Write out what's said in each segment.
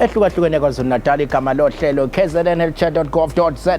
ehlukahlukene kwazulu-natal igama lohlelo kznlchat.gov.za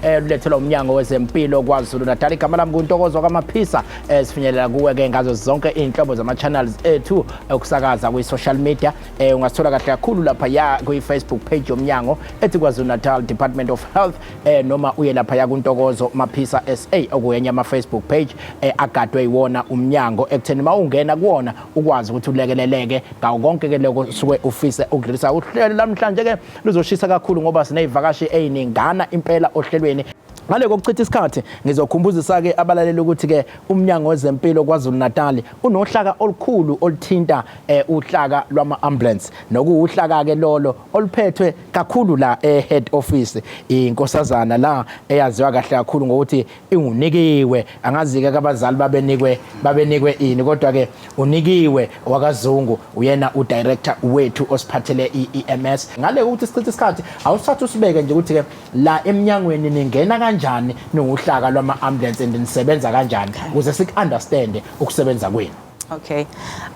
olulethelwa eh, umnyango wezempilo kwazulu-natal igama lami kuntokozo kwamaphisa eh, sifinyelela kuwe-ke ngazo zonke iy'nhlobo zama-channels ethu okusakaza eh, kwi-social media um ungasithola kahle kakhulu lapha ya kwi-facebook page yomnyango ethi kwazulu-natal department of health um noma uye lapha ya kuntokozo maphisa sa okuyenye ama-facebook page um agadwe yiwona umnyango ekutheni uma ungena kuwona ukwazi ukuthi ulekeleleke ngawo konke ke lokho suke ufise ukudlulisa uhlelo lamhlanje ke luzoshisa kakhulu ngoba sinezivakashi eziningana impela ohlelweni ngale kokuchitha isikhathi ngizokhumbuzisa ke abalaleli ukuthi ke umnyango wezempilo kwaZulu Natal unohlaka olukhulu oluthinta eh, uhlaka lwama ambulance nokuwuhlaka ke lolo oluphethwe kakhulu la e head office inkosazana la eyaziwa kahle kakhulu ngokuthi ingunikiwe angazike kabazali babenikwe babenikwe ini kodwa ke unikiwe wakazungu uyena u director wethu osiphathele iEMS ngale ukuthi sichithe isikhathi awusathu sibeke nje ukuthi ke la eminyangweni ningena kanjani ninguhlaka lwama ambulance and nisebenza kanjani ukuze siku understand ukusebenza kwenu Okay.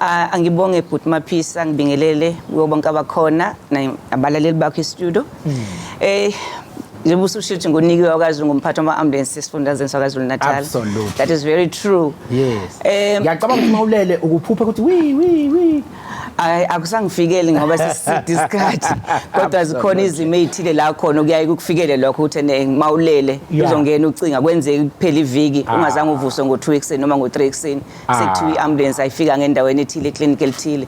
Uh, angibonge bhuti Maphisa ngibingelele kuyo bonke abakhona nabalaleli bakho e-studio. Mm. Eh njengoba ususho ukuthi ngunikiwe wakazulu ngumphathi wama-ambulensi esifundazweni sakwazulu natal Absolutely. that is very true yes um ngiyacabanga ukuthi mawulele ukuphupha ukuthi wi wi wi hayi akusangifikeli ngoba siside isikhathi kodwa zikhona izimo ey'thile la khona okuyaye kukufikele lokho ukuthi ene mawulele Yeah. uzongena ucinga kwenzeka kuphela iviki ungazange uvuswe ngo-two ekuseni noma ngo-three ekuseni Ah. sekuthiwa i-ambulance ayifika ngendaweni ethile eclinic elithile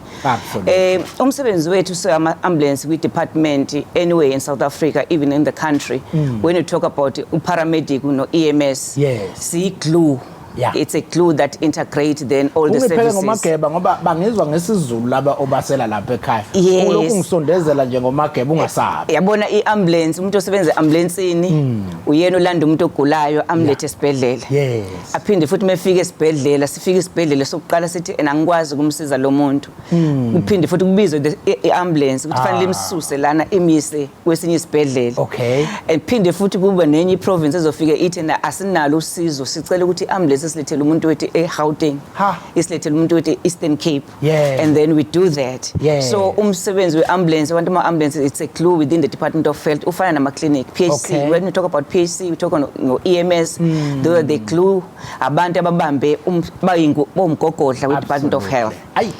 um umsebenzi wethu singama-ambulance kwi-department anyway in south africa even in the country mm. when you talk about uparamedic no-ems yes. siyi-glue Yeah. It's a clue that integrate then all the services. Ungiphele ngomageba ngoba bangizwa ngesizulu laba obasela lapha ekhaya. Yes. Ulokhu ngisondezela nje ngomageba ungasabi. Yabona i-ambulance umuntu osebenza e-ambulancini mm. uyena ulanda umuntu ogulayo amlethe esibhedlela. Yeah. aphinde futhi mefika esibhedlela sifika isibhedlela sokuqala sithi ena ngikwazi ukumsiza lo muntu hmm. kuphinde futhi kubizwe i-ambulance ukuthi fanele ah. imsuse lana imise kwesinye isibhedlela okay ephinde futhi kube nenye iprovince ezofika ithi na asinalo usizo sicela ukuthi i-ambulance silethele umuntu wethi e-Gauteng isilethele umuntu wethi e-Eastern Cape Yeah. And then we do that. Yeah. So umsebenzi we-ambulance, abantu ama-ambulance, it's a clue within the Department of Health, ufana nama-clinic, PHC. Okay. When we talk about PHC, we talk on no EMS, mm. they are the clue, abantu ababambe um, bayingu bomgogodla we-Department of Health. Ayi,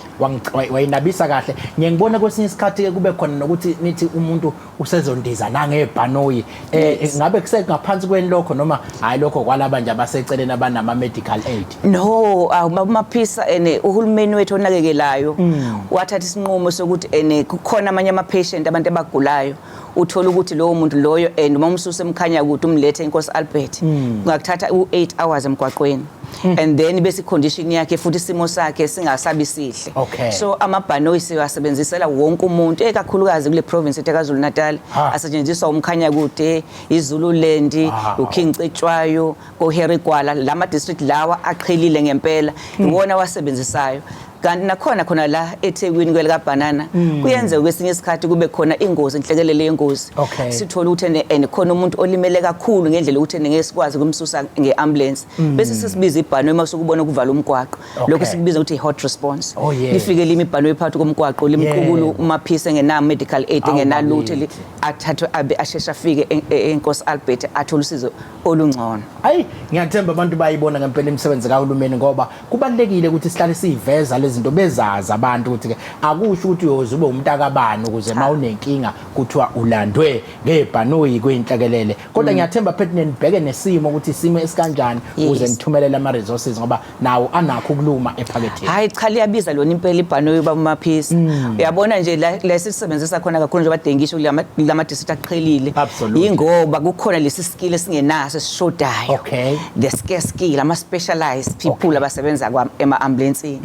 wayinabisa kahle. Ngiyengibona kwesinye isikhathi kube khona nokuthi nithi umuntu usezondiza nangebhanoyi eh ngabe kusengaphansi kweni lokho noma hayi lokho kwalaba nje abaseceleni abanama medical aid no awumaphisa ah, ene uhulumeni wethu onakekelayo mm. wathatha isinqumo sokuthi ene kukhona amanye ama patient abantu abagulayo uthola ukuthi lowo muntu loyo and uma umsuse emkhanya ukuthi umlethe inkosi Albert mm. ngakuthatha u8 hours emgwaqweni Hmm. and then bese condition yakhe futhi isimo sakhe singasabi sihle okay. so amabhanoyi siwasebenzisela wonke umuntu ekakhulukazi kule province ethe KwaZulu Natal asetshenziswa umkhanya kude iZululand uKing Cetshwayo koHerigwala lama district lawa aqhelile ngempela hmm. iwona wasebenzisayo kanti nakhona khona la eThekwini kwelikabhanana hmm. kuyenzeka kwesinye isikhathi kube khona ingozi inhlekelele yengozi okay. sithole ukuthi and khona umuntu olimele kakhulu ngendlela ukuthi ngeke sikwazi kumsusa ngeambulance mm. bese sisibiza ibhano uma sokubona kuvala umgwaqo okay. lokho sikubiza ukuthi hot response oh, yeah. lifike limi ibhano ephakathi komgwaqo limqukulu yeah. umaphisa engena medical aid engenalutho athathwe abe asheshe afike eNkosi Albert athole usizo olungcono ayi ngiyathemba abantu bayibona ngempela imisebenzi kahulumeni ngoba kubalulekile ukuthi sihlale siyiveza lezinto bezazi abantu ukuthi ke akusho ukuthi uyoze ube umntakabani ukuze ma unenkinga kuthiwa ulandwe ngebhanoyi kwinhlekelele kodwa mm. ngiyathemba phethi nenibheke nesimo ukuthi isimo esikanjani ukuze nithumelele ama resources ngoba nawo anakho ukuluma ephaketheni hayi cha liyabiza lona impela ibhanoyi bamaphisi mm. uyabona nje la sisebenzisa khona kakhulu nje badengisho lama district aqhelile ingoba kukhona lesi skill esingenaso esishodayo okay the scarce skill ama specialized people abasebenza kwa ema ambulance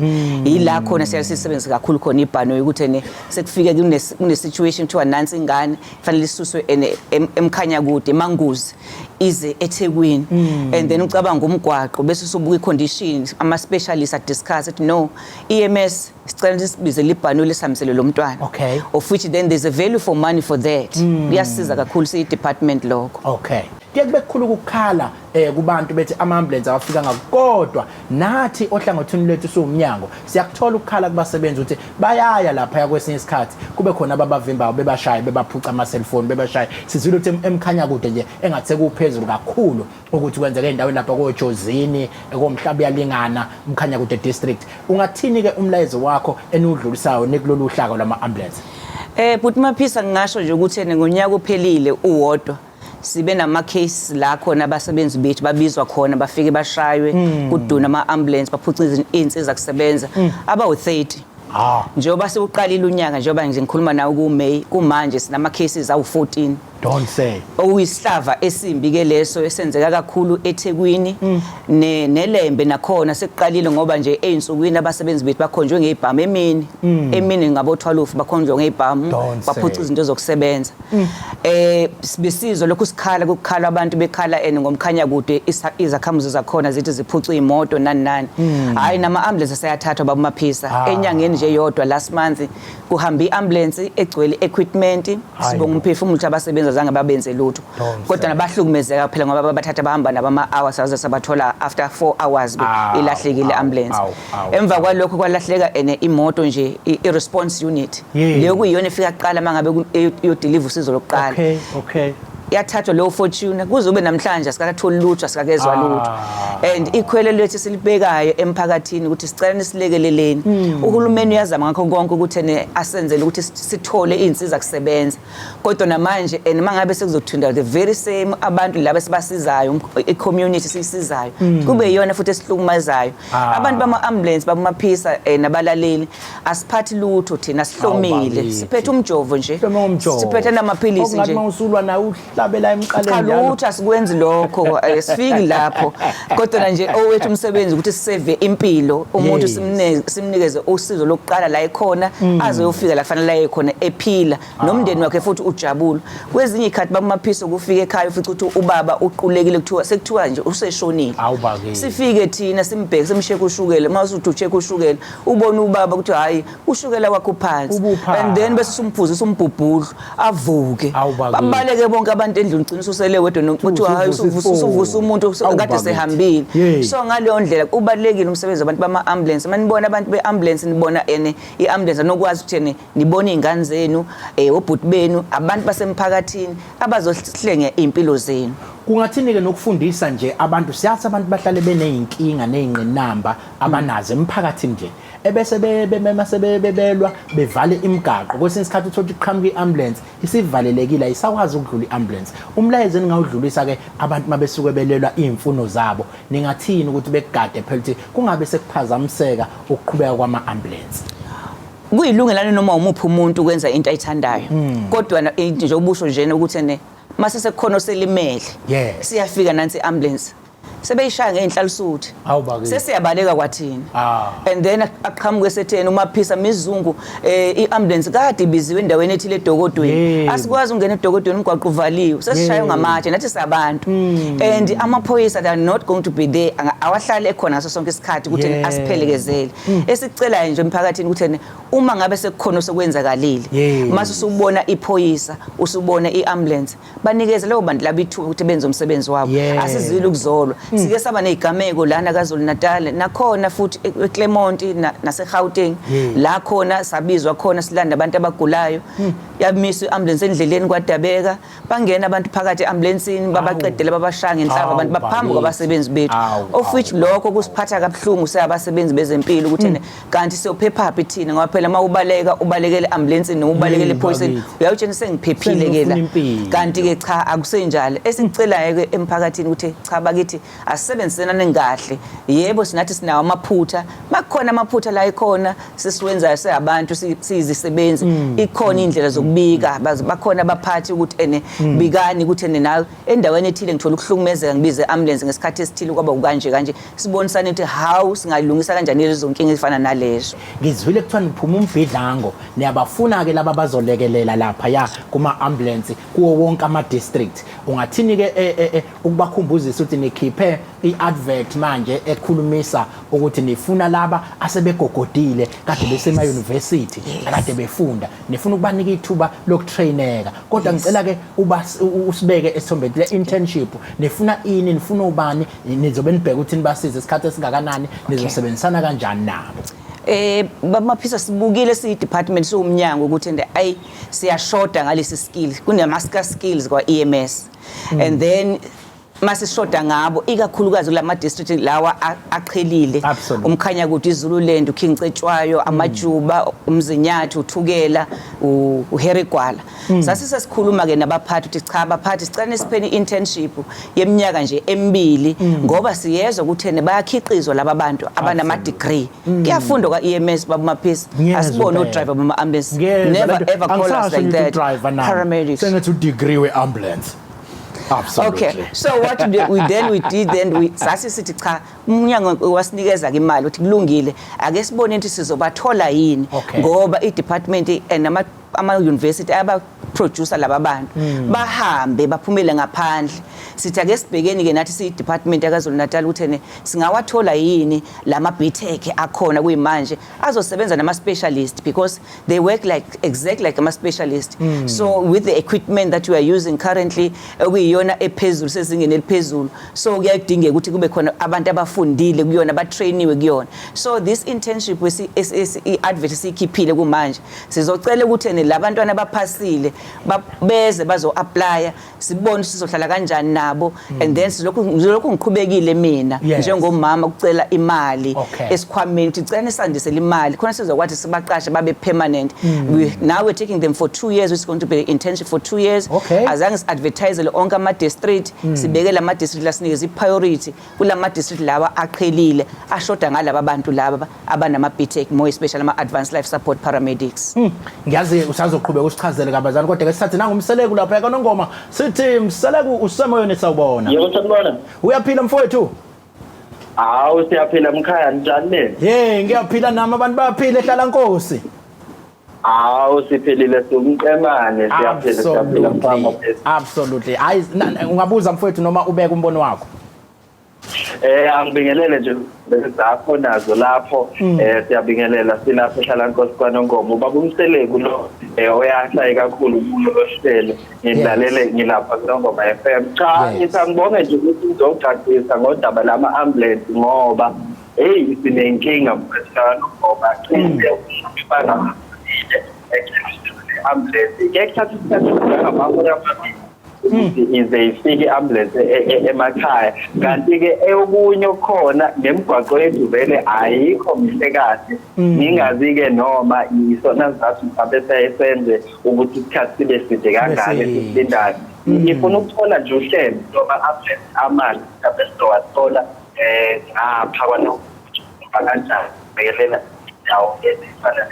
yila khona siyaye sisebenze kakhulu khona ibhano ukuthi ne sekufike kune kune situation kuthiwa nansi ingane kufanele isuswe ene- em- emkhanya kude emanguzi ize eThekwini and then ucabanga umgwaqo bese usubuka icondition ama specialists a discuss it no EMS sicela ukuthi sibize libhano lesihambisele lo mntwana Okay. of which then there's a value for money for that kuyasiza kakhulu siyi department lokho okay kuye kube kukhulu ukukhala eh kubantu bethi ama-ambulensi awafikanga kodwa nathi ohlangothini lwethu siwumnyango siyakuthola ukukhala kubasebenzi ukuthi bayaya lapha yakwesinye isikhathi kube khona ababavimbayo bebashaye bebaphuca ama-cellphone bebashaye sizwile ukuthi emkhanya kude nje engathi sekuphezulu kakhulu ukuthi kwenzeka endaweni lapha kojozini komhlaba uyalingana umkhanya kude district ungathini-ke umlayezo wakho eniwudlulisayo nekulolu hlaka lwama-ambulensi Eh bhuti Maphisa ngingasho nje ukuthi ene ngonyaka ophelile uwodwa sibe nama-case la khona abasebenzi bethu babizwa khona bafike bashaywe hmm. kuduna ama-ambulance baphuce iy'nsiza kusebenza hmm. abawu-30 ah. njengoba sewuqalile unyaka njengoba nje ngikhuluma nawe kuMay kumanje sinama-cases awu-14 don't say okuyisihlava esimbi ke leso esenzeka kakhulu eThekwini hmm. ne neLembe nakhona sekuqalile ngoba nje einsukwini abasebenzi bethu bakhonjwe ngeibhamu emini emini ngabo 12 bakhonjwe ngeibhamu baphuca izinto zokusebenza mm. eh besizwa lokhu sikhala kukhala abantu bekhala and ngomkhanya kude izakhamuzi zakhona zithi ziphucwa imoto nani nani mm. hayi nama ambulance aseyathathwa babumaphisa ah. enyangeni nje yodwa last month kuhambe iambulance egcwele equipment sibonga umphefumulo ukuthi abasebenza zange babenze lutho kodwa nabahlukumezeka phela ngoba bathatha bahamba nabama hours saze sabathola after 4 hours ah, ilahlekile ambulance emva kwalokho kwalahleka ene imoto nje i-response unit leyo kuyiyona efika kuqala uma ngabe iyodiliva usizo lokuqala okay okay yathathwa leyo fortune kuze ube namhlanje asikatholi lutho asikakezwa ah. lutho and ikhwele lethu silibekayo emphakathini ukuthi sicela nisilekeleleni hmm. uhulumeni uyazama ngakho konke ukuthi asenzele ukuthi sithole izinsiza kusebenza kodwa namanje and mangabe sekuzothinta the very same abantu laba sibasizayo i-community siyisizayo mm. kube yiyona futhi esihlukumazayo ah. abantu bama-ambulance babamaphisa eh, nabalaleli asiphathi lutho thina sihlomile siphethe umjovo nje siphethe namaphilisi nje usulwa nawe uhlabela emqaleni lutho asikwenzi lokho eh, sifiki lapho kodwa nje owethu umsebenzi ukuthi siseve impilo umuntu simnikeze usizo lokuqala la ekhona mm. aze yofika la fanele aye khona ephila ah. nomndeni wakhe futhi ujabula kwezinye ikhathi bamaphiso kufika ekhaya ufica ukuthi ubaba uqulekile kuthiwa sekuthiwa nje useshonile sifike thina simbheke simsheke ushukela uma usuthi usheke ushukela ubona ubaba ukuthi hayi ushukela wakho uphansi Ubuphansi. and then bese sumphuzisa umbhubhudlu avuke Awu bakuthi. babaleke bonke abantu endlini ugcina ususele wedwa no- Usuvusa kuthiwa hayi usuvusa ifoni. usuvusa umuntu Awu kade bakuthi. sehambile Yey. so ngaleyo ndlela ubalekile umsebenzi wabantu bama ambulance manibona abantu be ambulance nibona ene i ambulance anokwazi ukuthi ene nibona izingane zenu eh obhuti benu abantu basemphakathini abazohlenge impilo zenu kungathini-ke nokufundisa nje abantu siyathi abantu bahlale beney'nkinga ney'ngqinamba abanazo emphakathini nje ebese bemema sebebelwa bevale imigaqo kwesinye isikhathi uthola ukuthi qhamuka i-ambulance isivalelekile ayisakwazi ukudlula i-ambulance umlayezo eningawudlulisa-ke abantu uma besuke belelwa iy'mfuno zabo ningathini ukuthi bekugade phela ukuthi kungabe sekuphazamiseka ukuqhubeka kwama-ambulance kuyilungelane noma umuphi umuntu ukwenza into ayithandayo hmm. kodwa nje ubusho njena ukuthi ne mase sekukhona oselimele siyafika nansi i-ambulance sebeyishaya ngey'nhlalisuthi Hawu bakithi. sesiyabaleka kwathina Ah. and then aqhamuke setheni umaphisa mizungu um i-ambulance kade ibiziwe endaweni ethile edokodweni Yebo. asikwazi ukungena edokodweni umgwaqo uvaliwe sesishaywe Yebo. ngamatshe nathi sabantu and amaphoyisa they are not going to be there Anga- awahlale ekhona ngaso sonke isikhathi ukuthi Yebo. asiphelekezele esicelayo nje emphakathini ukuthi ene, uma ngabe sekukhona osekwenzakalile Yebo. mase usubona iphoyisa usubona i-ambulance banikeze labo bantu laba ithuba ukuthi benze umsebenzi wabo yeah. asizile ukuzolwa mm. sike saba nezigameko lana kaZulu Natal nakhona futhi e-, eClermont na, naseGauteng yeah. la khona sabizwa khona silanda abantu abagulayo mm. yamiswa iambulance endleleni kwadabeka bangena abantu phakathi eambulanceni babaqedele babashanga inhlaba abantu baphambi kwabasebenzi bethu of which lokho kusiphatha kabuhlungu seyabasebenzi bezempilo ukuthi mm. kanti siyophephaphi thina ngoba phela uma ubaleka ubalekele ambulance noma ubalekele ephoyiseni uyawutshena sengiphephile ke la kanti ke cha akusenjalo esingicelayo ke emphakathini ukuthi cha bakithi asisebenzisenane kahle yebo sinathi sinawo amaphutha makukhona amaphutha la ikhona sisiwenzayo seabantu siyizisebenzi mm. ikhona indlela zokubika bakhona abaphathi ukuthi ene mm. bikani ukuthi ene nawe endaweni ethile ngithola ukuhlukumezeka ngibize ambulance ngesikhathi esithile kwaba ukanje kanje sibonisane ukuthi hawu singalungisa kanjani lezo nkinga ezifana nalezo ngizwile kuthiwa niphuma umvidlango niyabafuna-ke laba bazolekelela lapha ya kuma-ambulensi kuwo wonke ama-district ungathini-ke e, e, e, ukubakhumbuzisa ukuthi nikhiphe i-advert manje ekhulumisa ukuthi nifuna laba asebegogodile kade besema-university kade befunda nifuna ukubanika ithuba lokutraineka kodwa ngicela-ke usibeke esithombeni le-internship nifuna ini nifuna ubani nizobe nibheka ukuthi nibasize isikhathi esingakanani nizosebenzisana kanjani nabo eh bamaphisa sibukile siyidepartment siwumnyango ukuthi and ay siyashoda ngalesi skill kunama skills kwa EMS mm. and then masishoda ngabo ikakhulukazi kulama district lawa aqhelile umkhanya kude izululand ukhingcetshwayo mm. amajuba umzinyathu uthukela uherigwala Hmm. sasise sikhuluma ke nabaphathi ukuthi cha abaphathi sicela nisipheni internship yeminyaka nje emibili hmm. ngoba siyezwa ukuthene bayakhiqizwa laba bantu abanama degree hmm. kuyafundwa kwa EMS baba maphisi asibone u driver bama ambulance never ever call us like that paramedics sengathi u degree we ambulance Absolutely. Okay. So what we, we then we did then we sasi sithi cha umnyango wasinikeza ke imali uthi kulungile ake sibone ukuthi sizobathola yini ngoba i department and ama ama-university ayabaproducer laba bantu mm. bahambe baphumele ngaphandle sithi ake sibhekeni-ke nathi siyi-department yakazulu natal ukuthi ene singawathola yini la ma-btech akhona kuyimanje azosebenza nama-specialist because they work like exactly like ama-specialist mm. so with the equipment that you are using currently okuyiyona ephezulu sezingeni eliphezulu so kuyadingeka ukuthi kube khona abantu abafundile kuyona batrainiwe kuyona so this internship i-advert esiyikhiphile kumanje Sizocela ukuthi ene labantwana abaphasile beze bazo apply sibone sizohlala kanjani nabo mm. and then silokhu ngilokhu ngiqhubekile mina yes. njengomama ukucela imali okay. esikhwameni ukuthi cela nisandise imali khona sizokwathi sibaqashe babe permanent mm. we, now we're taking them for 2 years it's going to be internship for 2 years okay. azange siadvertise onke ama district mm. sibekele ama district lasinike zi priority kulama district lawa aqhelile ashoda ngalaba bantu laba abanama BTEC more especially ama advanced life support paramedics hmm. ngiyazi usazoqhubeka usichazele kabazana kodwa ke sithathe nangumseleku lapha yakanongoma sithi mseleku usemoyeni sawubona yebo sanibona uyaphila mfowethu hawu siyaphila mkhaya njani nini hey ngiyaphila nami abantu baphile hlala nkosi Hawu siphelile siwumqemane siyaphila siyaphila Absolutely. mfama phezulu. Absolutely. Hayi na- na- ungabuza mfowethu noma ubeka umbono wakho. Eh angibingelele nje zakho nazo lapho Mm. eh siyabingelela silapho ehlala Nkosi kwaNongoma ubaba umseleku lo eh oyashaye kakhulu kulo lohlelo ngilalele ngilapha kuNongoma FM cha Yes. ngitha ngibonge nje ukuthi uzogcagcisa ngodaba lama ambulance ngoba heyi sinenkinga mfetshana ngoba cishe umfana amile eceleni ambulance ngeke thatha isikhathi sokuhambahora phambili ukuthi ize ifike i-ambulense e- e- emakhaya kanti-ke okunye okukhona nemigwaqo yethu vele ayikho mihle kahle mm. ngingazi-ke noma yisona sizathu mhlawumbe sayesenze ukuthi isikhathi sibe side kangani esilindayo mm. ngifuna ukuthola nje uhlelo noma amanzi mhlawumbe sizowathola eh ngapha kwalo kanjani bekelela indawo ezifana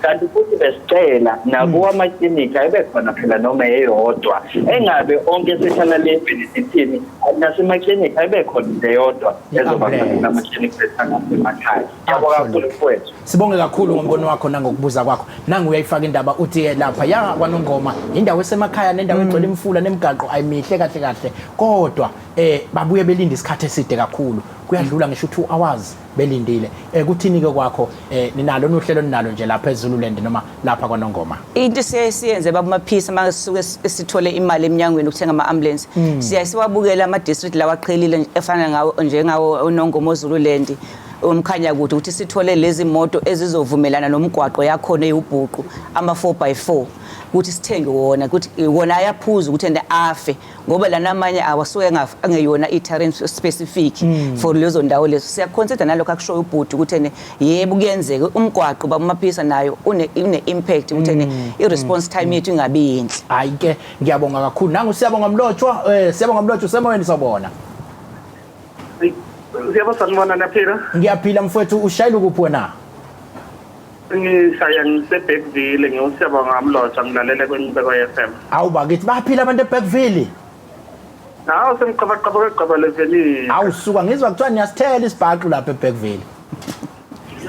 kanti futhi besicela nakuwa hmm. amaklinikhi ayebekhona phela noma eyodwa engabe onke sehlala le benefithini nasemaklinikhi ayebekhona into eyodwa ezobakhona amaklinikhi sesangamakhaya yabo kakhulu kwethu sibonge kakhulu ngombono wakho nangokubuza kwakho nangu uyayifaka indaba uthi eh, lapha ya kwanongoma indawo esemakhaya nendawo hmm. egcwele imfula nemigaqo ayimihle kahle kahle kodwa eh babuye belinde isikhathi eside kakhulu kuyadlula ngisho 2 hours belindile eh kuthini ke kwakho eh ninalo nohlelo ninalo nje lapha eZululand noma lapha kwaNongoma into sesiyenze babumaphisa masuke sithole imali eminyangweni ukuthenga ama ambulance hmm. siya siwabukela ama district lawa qhelile efana ngawo njengawo oNongoma oZululand umkhanya kude ukuthi sithole lezi moto ezizovumelana nomgwaqo yakhona eyubhuqu ama 4 by 4 ukuthi sithenge wona ukuthi wona ayaphuza ukuthi ende afe ngoba lana amanye awasuke angeyona i-terrain specific hmm. for lezo ndawo lezo siyaconsider nalokho akushoyo ubhuti ukuthi ene yebo kuyenzeka umgwaqo bamaphisa nayo une-impact ukuthi ene hmm. i-response hmm. time yethu ingabi yinhle hayi ke ngiyabonga kakhulu nangu siyabonga mlotshwa um siyabonga mlotshwa usemoyeni sawubona siyabona sanibona naphila ngiyaphila mfowethu ushayela ukuphi wena Ngihlaya ngiseBergville ngiwuSiyabonga Mlotshwa ngilalele kweNcubeko FM. Awu bakithi baphila abantu eBergville. Hawu semqabaqaba kwegqaba levenini. Awu suka ngizwa kuthiwa niyasithela isibhaqu lapha eBergville.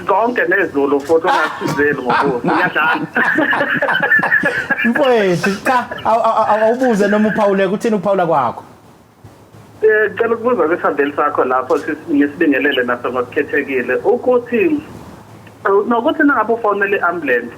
konke nezulu futhi ungasizeli ngokuthi uyadlala mfowethu cha awubuze noma uphawuleka uthini ukuphawula kwakho Ngicela ukubuza kwisambeli sakho lapho ngisibingelele naso ngosikhethekile ukuthi nokuthi nangabe ufonele i-ambulance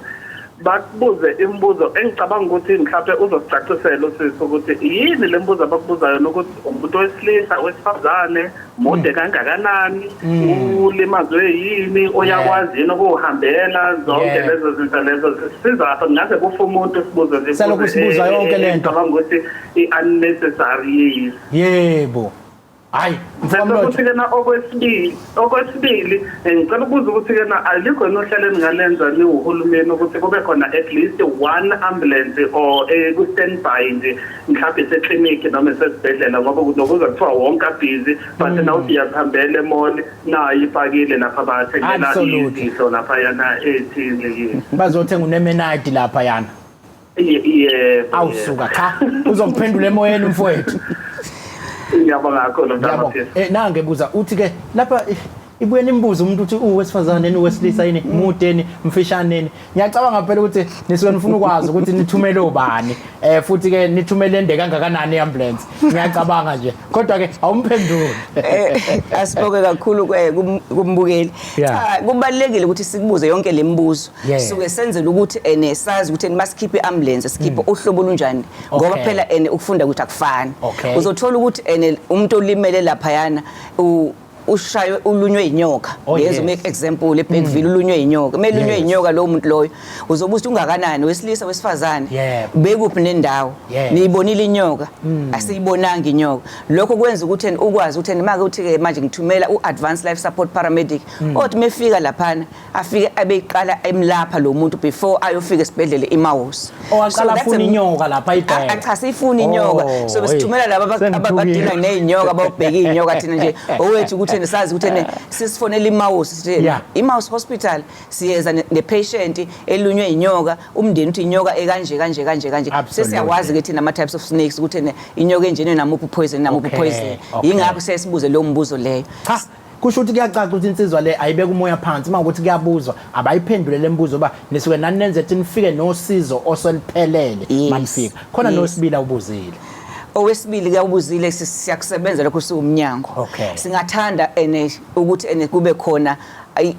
bakubuze imibuzo engicabanga ukuthi mhlawumbe uzosicacisela usisi ukuthi yini le mbuzo abakubuza yona ukuthi umuntu wesilisa wesifazane mude kangakanani Mm. ulimazwe yini oyakwazi yini ukuwuhambela zonke Yeah. lezo zinto lezo sizapha kungaze kufa umuntu sibuze zibuze, Selokhu sibuza eh, yonke eh, le nto. ngicabanga ukuthi i-unnecessary yiyo yebo hayi mfowethu mfowethu ukuthi-ke na okwesibili okwesibili eh, ngicela ukubuza ukuthi-ke na alikho yini ohlelo eningalenza niwuhulumeni ukuthi kube khona at least one ambulance or eh, ku-standby nje mhlawumbe iseklinikhi noma isesibhedlela ngoba nokuza kuthiwa wonke abhizi but mm. nawuthi iyakuhambela emoli nayo ipakile lapha bathengela izinto laphayana ethile yini bazothenga unemenayidi laphayana yebo awusuka cha uzokuphendula emoyeni umfowethu ngiyabonga kakhulu mntana eh nange buza uthi ke lapha eh, ibuye nimbuze umuntu ukuthi uwesifazane yini uwesilisa yini mude yini mfishane yini ngiyacabanga phela ukuthi nisuke nifuna ukwazi ukuthi nithumele ubani eh futhi ke nithumele ende kangakanani iambulance ngiyacabanga nje kodwa ke awumphenduli eh, asiboke kakhulu eh, kumbukeli cha kubalekile ukuthi sikubuze yonke lemibuzo suke senzela ukuthi ene eh, sazi ukuthi masikhiphe iambulance sikhiphe hmm. uhlobo lunjani ngoba phela ene ukufunda ukuthi akufani uzothola ukuthi ene umuntu olimele lapha yana ushaywe ulunywe inyoka oh, ngeze make example ebhekville mm. ulunywe inyoka kumele ulunywe inyoka lowo muntu loyo uzobe uthi ungakanani wesilisa wesifazane bekuphi nendawo niyibonile inyoka mm. asiyibonanga inyoka lokho kwenza ukuthi ukwazi ukuthi make uthi ke manje ngithumela u-advanced life support paramedic mm. othi mefika laphana afike abeyiqala emlapha lo muntu before ayofika esibhedlela iMaus owaqala oh, afuna inyoka lapha ayibheke achase ifuna inyoka oh, so besithumela laba abadila nezinyoka ababheke inyoka thina nje owethu ukuthi nesazi ukuthi sisifonela iMaus sithi iMaus hospital siyeza nepatient elunywe inyoka umndeni uthi inyoka ekanje kanje kanje kanje sesiyawazi ukuthi nama types of snakes ukuthi inyoka enjene namuphi poison namuphi poison ingakho sesibuze lo mbuzo leyo kusho ukuthi kuyacaca ukuthi insizwa le ayibeka umoya phansi uma ukuthi kuyabuzwa abayiphendule le mbuzo uba nisuke nani nenze ukuthi nifike nosizo oseliphelele manifika khona nosibila ubuzile owesibili ke ubuzile siyakusebenza lokho siwumnyango singathanda ene ukuthi ene kube khona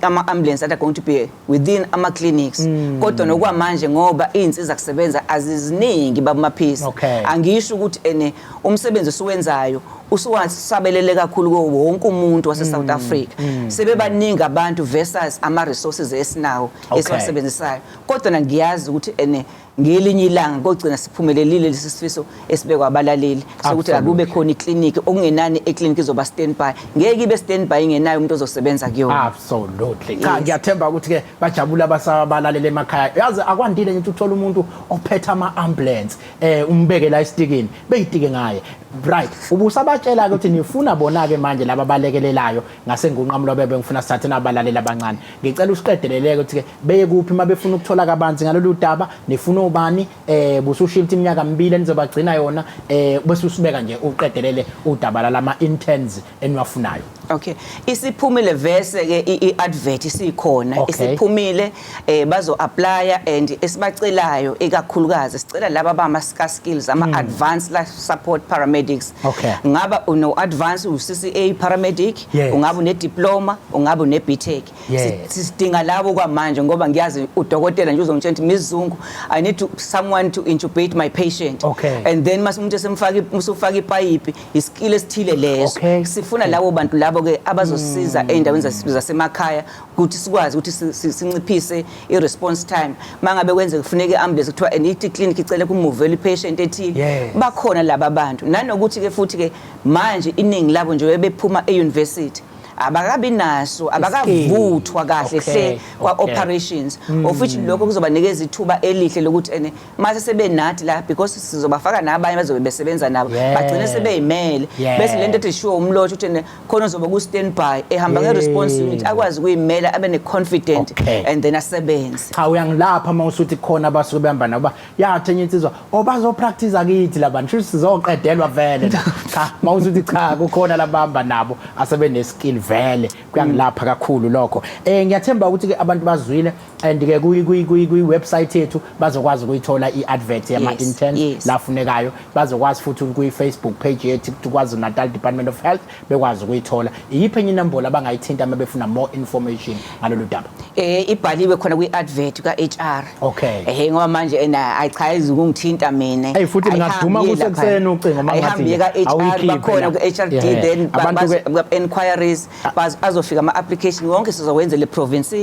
ama ambulance that are going to be within ama clinics mm. kodwa nokwamanje ngoba izinsiza kusebenza aziziningi babumaphisi okay. angisho ukuthi ene umsebenzi osuwenzayo usuwasabelele kakhulu kuwo wonke umuntu wase South mm. Africa mm. sebebaningi abantu versus ama resources esinawo okay. esiwasebenzisayo kodwa ngiyazi ukuthi ene ngelinye ilanga kogcina siphumelelile lesi sifiso esibekwa abalaleli sokuthi akube khona ikliniki okungenani ekliniki izoba standby ngeke ibe standby ingenayo umuntu ozosebenza kuyona absolutely cha ngiyathemba ukuthi ke bajabula abasabalalele emakhaya yazi akwandile ngithi uthola umuntu ophetha ama ambulance eh umbeke la istikini beyitike ngaye right ubusabatshela ukuthi nifuna bona ke manje laba balekelelayo ngasengunqamulobebe ngifuna sithathe nabalalela abancane ngicela usiqedeleleke ukuthi ke beye kuphi uma befuna ukuthola kabanzi ngalolu daba nifuna ubani eh busushilta iminyaka mibili enizobagcina yona eh bese usibeka nje uqedelele udaba lama interns eniwafunayo Okay. Isiphumile verse ke iadvert isikhona. Okay. Isiphumile eh bazo applya and esibacelayo ikakhulukazi sicela laba bama ska skills ama mm. advanced life support paramedics. Okay. Ngaba uno advanced uCCA paramedic, yes. ungaba une diploma ungabe unebitheki Yes. Si- sidinga labo kwamanje ngoba ngiyazi udokotela nje uzongitshela ukuthi miss zungu i need to, someone to intubate my patient Okay. and then mas umuntu esemfaka i- usufaka ipayipi isikile esithile leso Okay. Mm. sifuna labo bantu labo ke abazosiza ey'ndaweni zase- zasemakhaya ukuthi sikwazi ukuthi si- si- sinciphise i-response time uma ngabe kwenzeka kufuneka i-ambulance kuthiwa and ithi clinic icele kumuvela i-patient ethile Yes. bakhona laba bantu nanokuthi-ke futhi-ke manje iningi labo nje bebephuma e-university abakabi naso abakavuthwa kahle Okay, hle kwa okay. operations of which lokho kuzobanikeza ithuba elihle lokuthi ene mase sebenathi la because sizobafaka nabanye bazobe besebenza nabo Yeah. bagcine sebeyimele Yeah. bese lento ethi sure umlotha ukuthi ene khona uzoba ku standby ehamba nge response Yeah. unit akwazi ukuyimela abe ne confident Okay. and then asebenze cha uyangilapha uma usuthi khona abasuke behamba nabo yathi enye insizwa o bazopractice kithi labantu shuthi sizoqedelwa vele cha mawuzuthi cha kukhona labamba nabo asebene skill vele kuyangilapha kakhulu lokho eh ngiyathemba ukuthi ke abantu bazwile and ke kuyi kuyi kuyi kuyi website yethu bazokwazi ukuyithola i-advert yama Yes, interns yes. lafunekayo bazokwazi futhi kuyi Facebook page yethu kwaZulu Natal Department of Health bekwazi ukuyithola iyiphi enye inombolo abangayithinta uma befuna more information ngalolu daba eh ibhaliwe khona kwi advert ka HR okay eh ngoba manje ena ayichayizi ukungithinta mina hey futhi ngingaduma kusekuseni ucingo uma ngathi ka HR bakhona ku HRD then ba inquiries ah. azofika ama application wonke sizowenza le province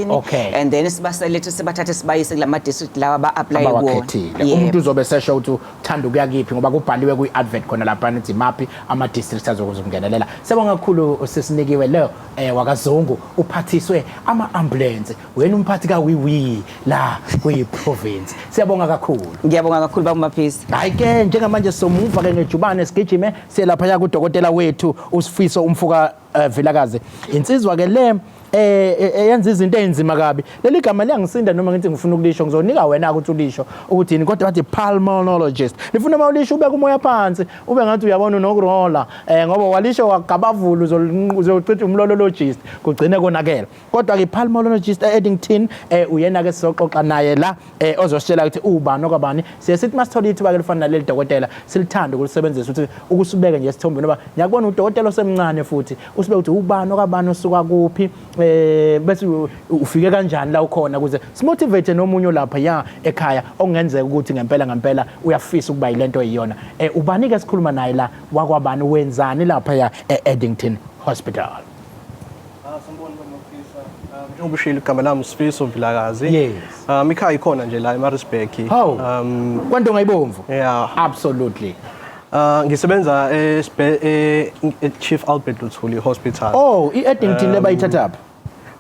and then sibaselethe sibathathe sibayise kulama district lawa ba apply kuona umuntu uzobe sesho ukuthi thanda ukuya kiphi ngoba kubhaliwe kwi-advert khona lapha nithi maphi ama-districts azokwazi ukungenelela sebonga kakhulu sesinikiwe leyo um wakazungu uphathiswe ama-ambulensi wena umphathi kawiwi la kuyi-province siyabonga kakhulu ngiyabonga kakhulu bakumaphisi hhayi ke njengamanje somuva-ke ngejubane sigijime siyelaphaya kudokotela wethu usifiso umfuka Eh Vilakazi, insizwa ke le eh, eh, eh yenza izinto ezinzima kabi. Leli gama liyangisinda noma ngithi ngifuna ukulisho ngizonika wena ukuthi ulisho ukuthi yini kodwa wathi pulmonologist. Nifuna uma ulisho ubeka umoya phansi ube ngathi uyabona unokurola eh ngoba walisho wagabavula uzochitha umlolologist kugcine konakela. kodwa ke pulmonologist e-Eddington eh uyena ke sizoxoxa naye la eh ozositshela ukuthi ubani okwabani siye sithi masithola ithuba ke lifana naleli dokotela silithanda ukulisebenzisa ukuthi ukusibeke nje esithombeni ngoba ngiyakubona udokotela osemncane futhi usibeke ukuthi ubani okwabani osuka kuphi eh bese ufike kanjani la ukhona ukuze simotivate nomunye lapha ya ekhaya okungenzeka ukuthi ngempela ngempela uyafisa ukuba yilento eyiyona eh ubani ke sikhuluma naye la wakwabani wenzani lapha ya e-Eddington Hospital Ah, sanibona baba Mfisa. Ah, njengoba ushilo igama lami uSifiso Vilakazi. Yes. Um ikhaya ikhona nje la eMaritzburg. Hawu. Um Kwanto ngayibomvu. yeah. Absolutely. Uh, ngisebenza esbe- e- e- Chief Albert Luthuli Hospital. Oh, i-Eddington Um, lebayithathaphi?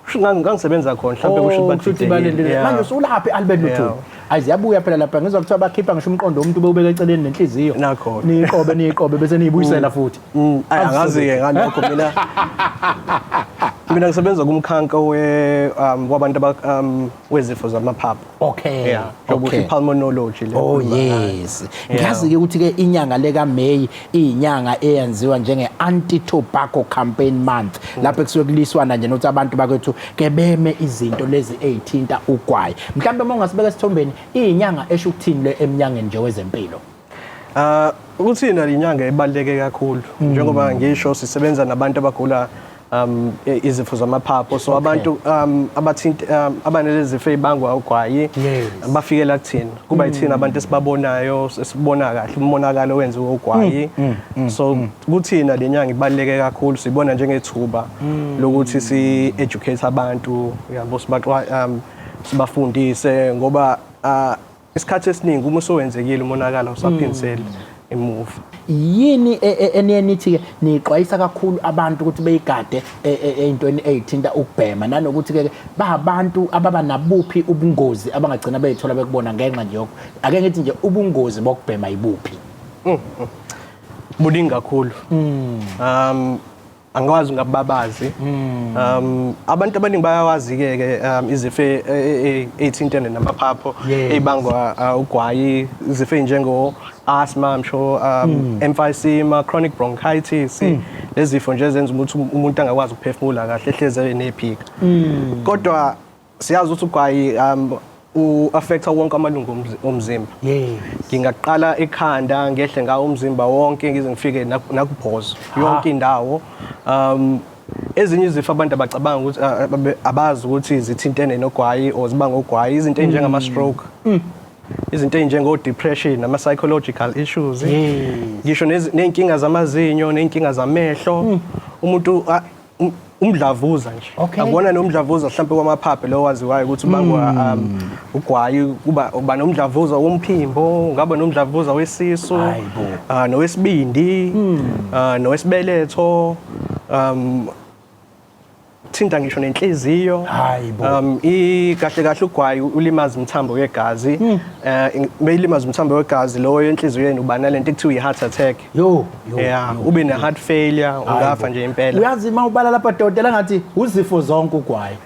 Kusho ngangi- ngangisebenza khona mhlawumbe kusho Oh, ukuthi kusho ukuthi badidekile. balindile. Yeah. Manje usulaphi Albert Luthuli? Yeah. Ayi ziyabuya phela lapha ngizwa kuthiwa bakhipha ngisho umqondo womuntu bewubeka eceleni nenhliziyo. Nakho. Niyiqobe niyiqobe bese niyibuyisela futhi. Mm, ay, angazi-ke ngalokho mina mina ngisebenza kumkhanka we um wabantu aba- um wezifo zamaphaphu okay yeah njengoba okay. usho i-pulmonology le Oh ekhuluma ngayo. yes. Yeah. Ngiyazi ke ukuthi ke inyanga leka May inyanga eyenziwa njenge anti tobacco campaign month lapho kusuke kuliswana nje nokuthi abantu bakwethu ke beme izinto lezi ezithinta ugwayi. Mhlawumbe uma ungasibeka esithombeni inyanga esho ukuthini le emnyangeni nje wezempilo. Ah ukuthi nali inyanga ibaleke kakhulu mm. njengoba ngisho sisebenza nabantu abagula um izifo zamaphapho so abantu um abathinta um, abanelezifo ezibangwa ugwayi bafikela kuthina kuba yithina mm. abantu esibabonayo sibona kahle umonakalo wenziwe ugwayi mm, mm, so kuthina lenyanga ibaleke kakhulu sibona njengethuba lokuthi si educate abantu yabo sibaxwa um, sibafundise ngoba uh, isikhathi esiningi uma usowenzekile umonakalo usaphindiseli emuva yini e- e- eniye nithi-ke niyixwayisa kakhulu abantu ukuthi beyigade e- e- ey'ntweni ey'thinta ukubhema nanokuthi-ke bahabantu ababa nabuphi ubungozi abangagcina beyithola bekubona ngenxa nje yoku ake ngithi nje ubungozi bokubhema yibuphi buningi kakhulu um angikwazi ngababazi hmm. um abantu abaningi bayawazi ke ke um, izifo e, e, e, ezithintene namaphapho ebangwa uh, ugwayi izifo njengo asthma msho um hmm. emphysema chronic bronchitis hmm. lezifo nje ezenza ukuthi umuntu angakwazi ukuphefumula kahle ehleze enephika kodwa siyazi ukuthi ugwayi um u-affecta wonke amalungu omzi- omzimba Yes. ngingaqala ekhanda ngehle ngawo umzimba wonke ngize ngifike nak- nakubhozo yonke indawo um ezinye izifo abantu abacabanga ukuthi a- ababe- abazi ukuthi zithintene nogwayi or ziba ngogwayi izinto ezinjengama-stroke izinto ezinjengo-depression ama-psychological issues Yes. ngisho nezi- ney'nkinga zamazinyo ney'nkinga zamehlo umuntu a- um- umdlavuza nje Okay. akuwona nomdlavuza mhlawumbe wamaphaphe lowo waziwayo ukuthi ubangwa um, ugwayi kuba uba nomdlavuza womphimbo ungaba nomdlavuza wesisu Hayi bo. ah, nowesibindi ah, nowesibeletho um thinta ngisho nenhliziyo Hayi bo. um i kahle kahle ugwayi ulimaza umthambo wegazi eh beyilimaza umthambo wegazi lowo enhliziyweni uba nalento ekuthiwa i-heart attack Yo. yeah ube ne heart failure ungafa nje impela uyazi uma ubala lapha dodela ngathi uzifo zonke ugwaye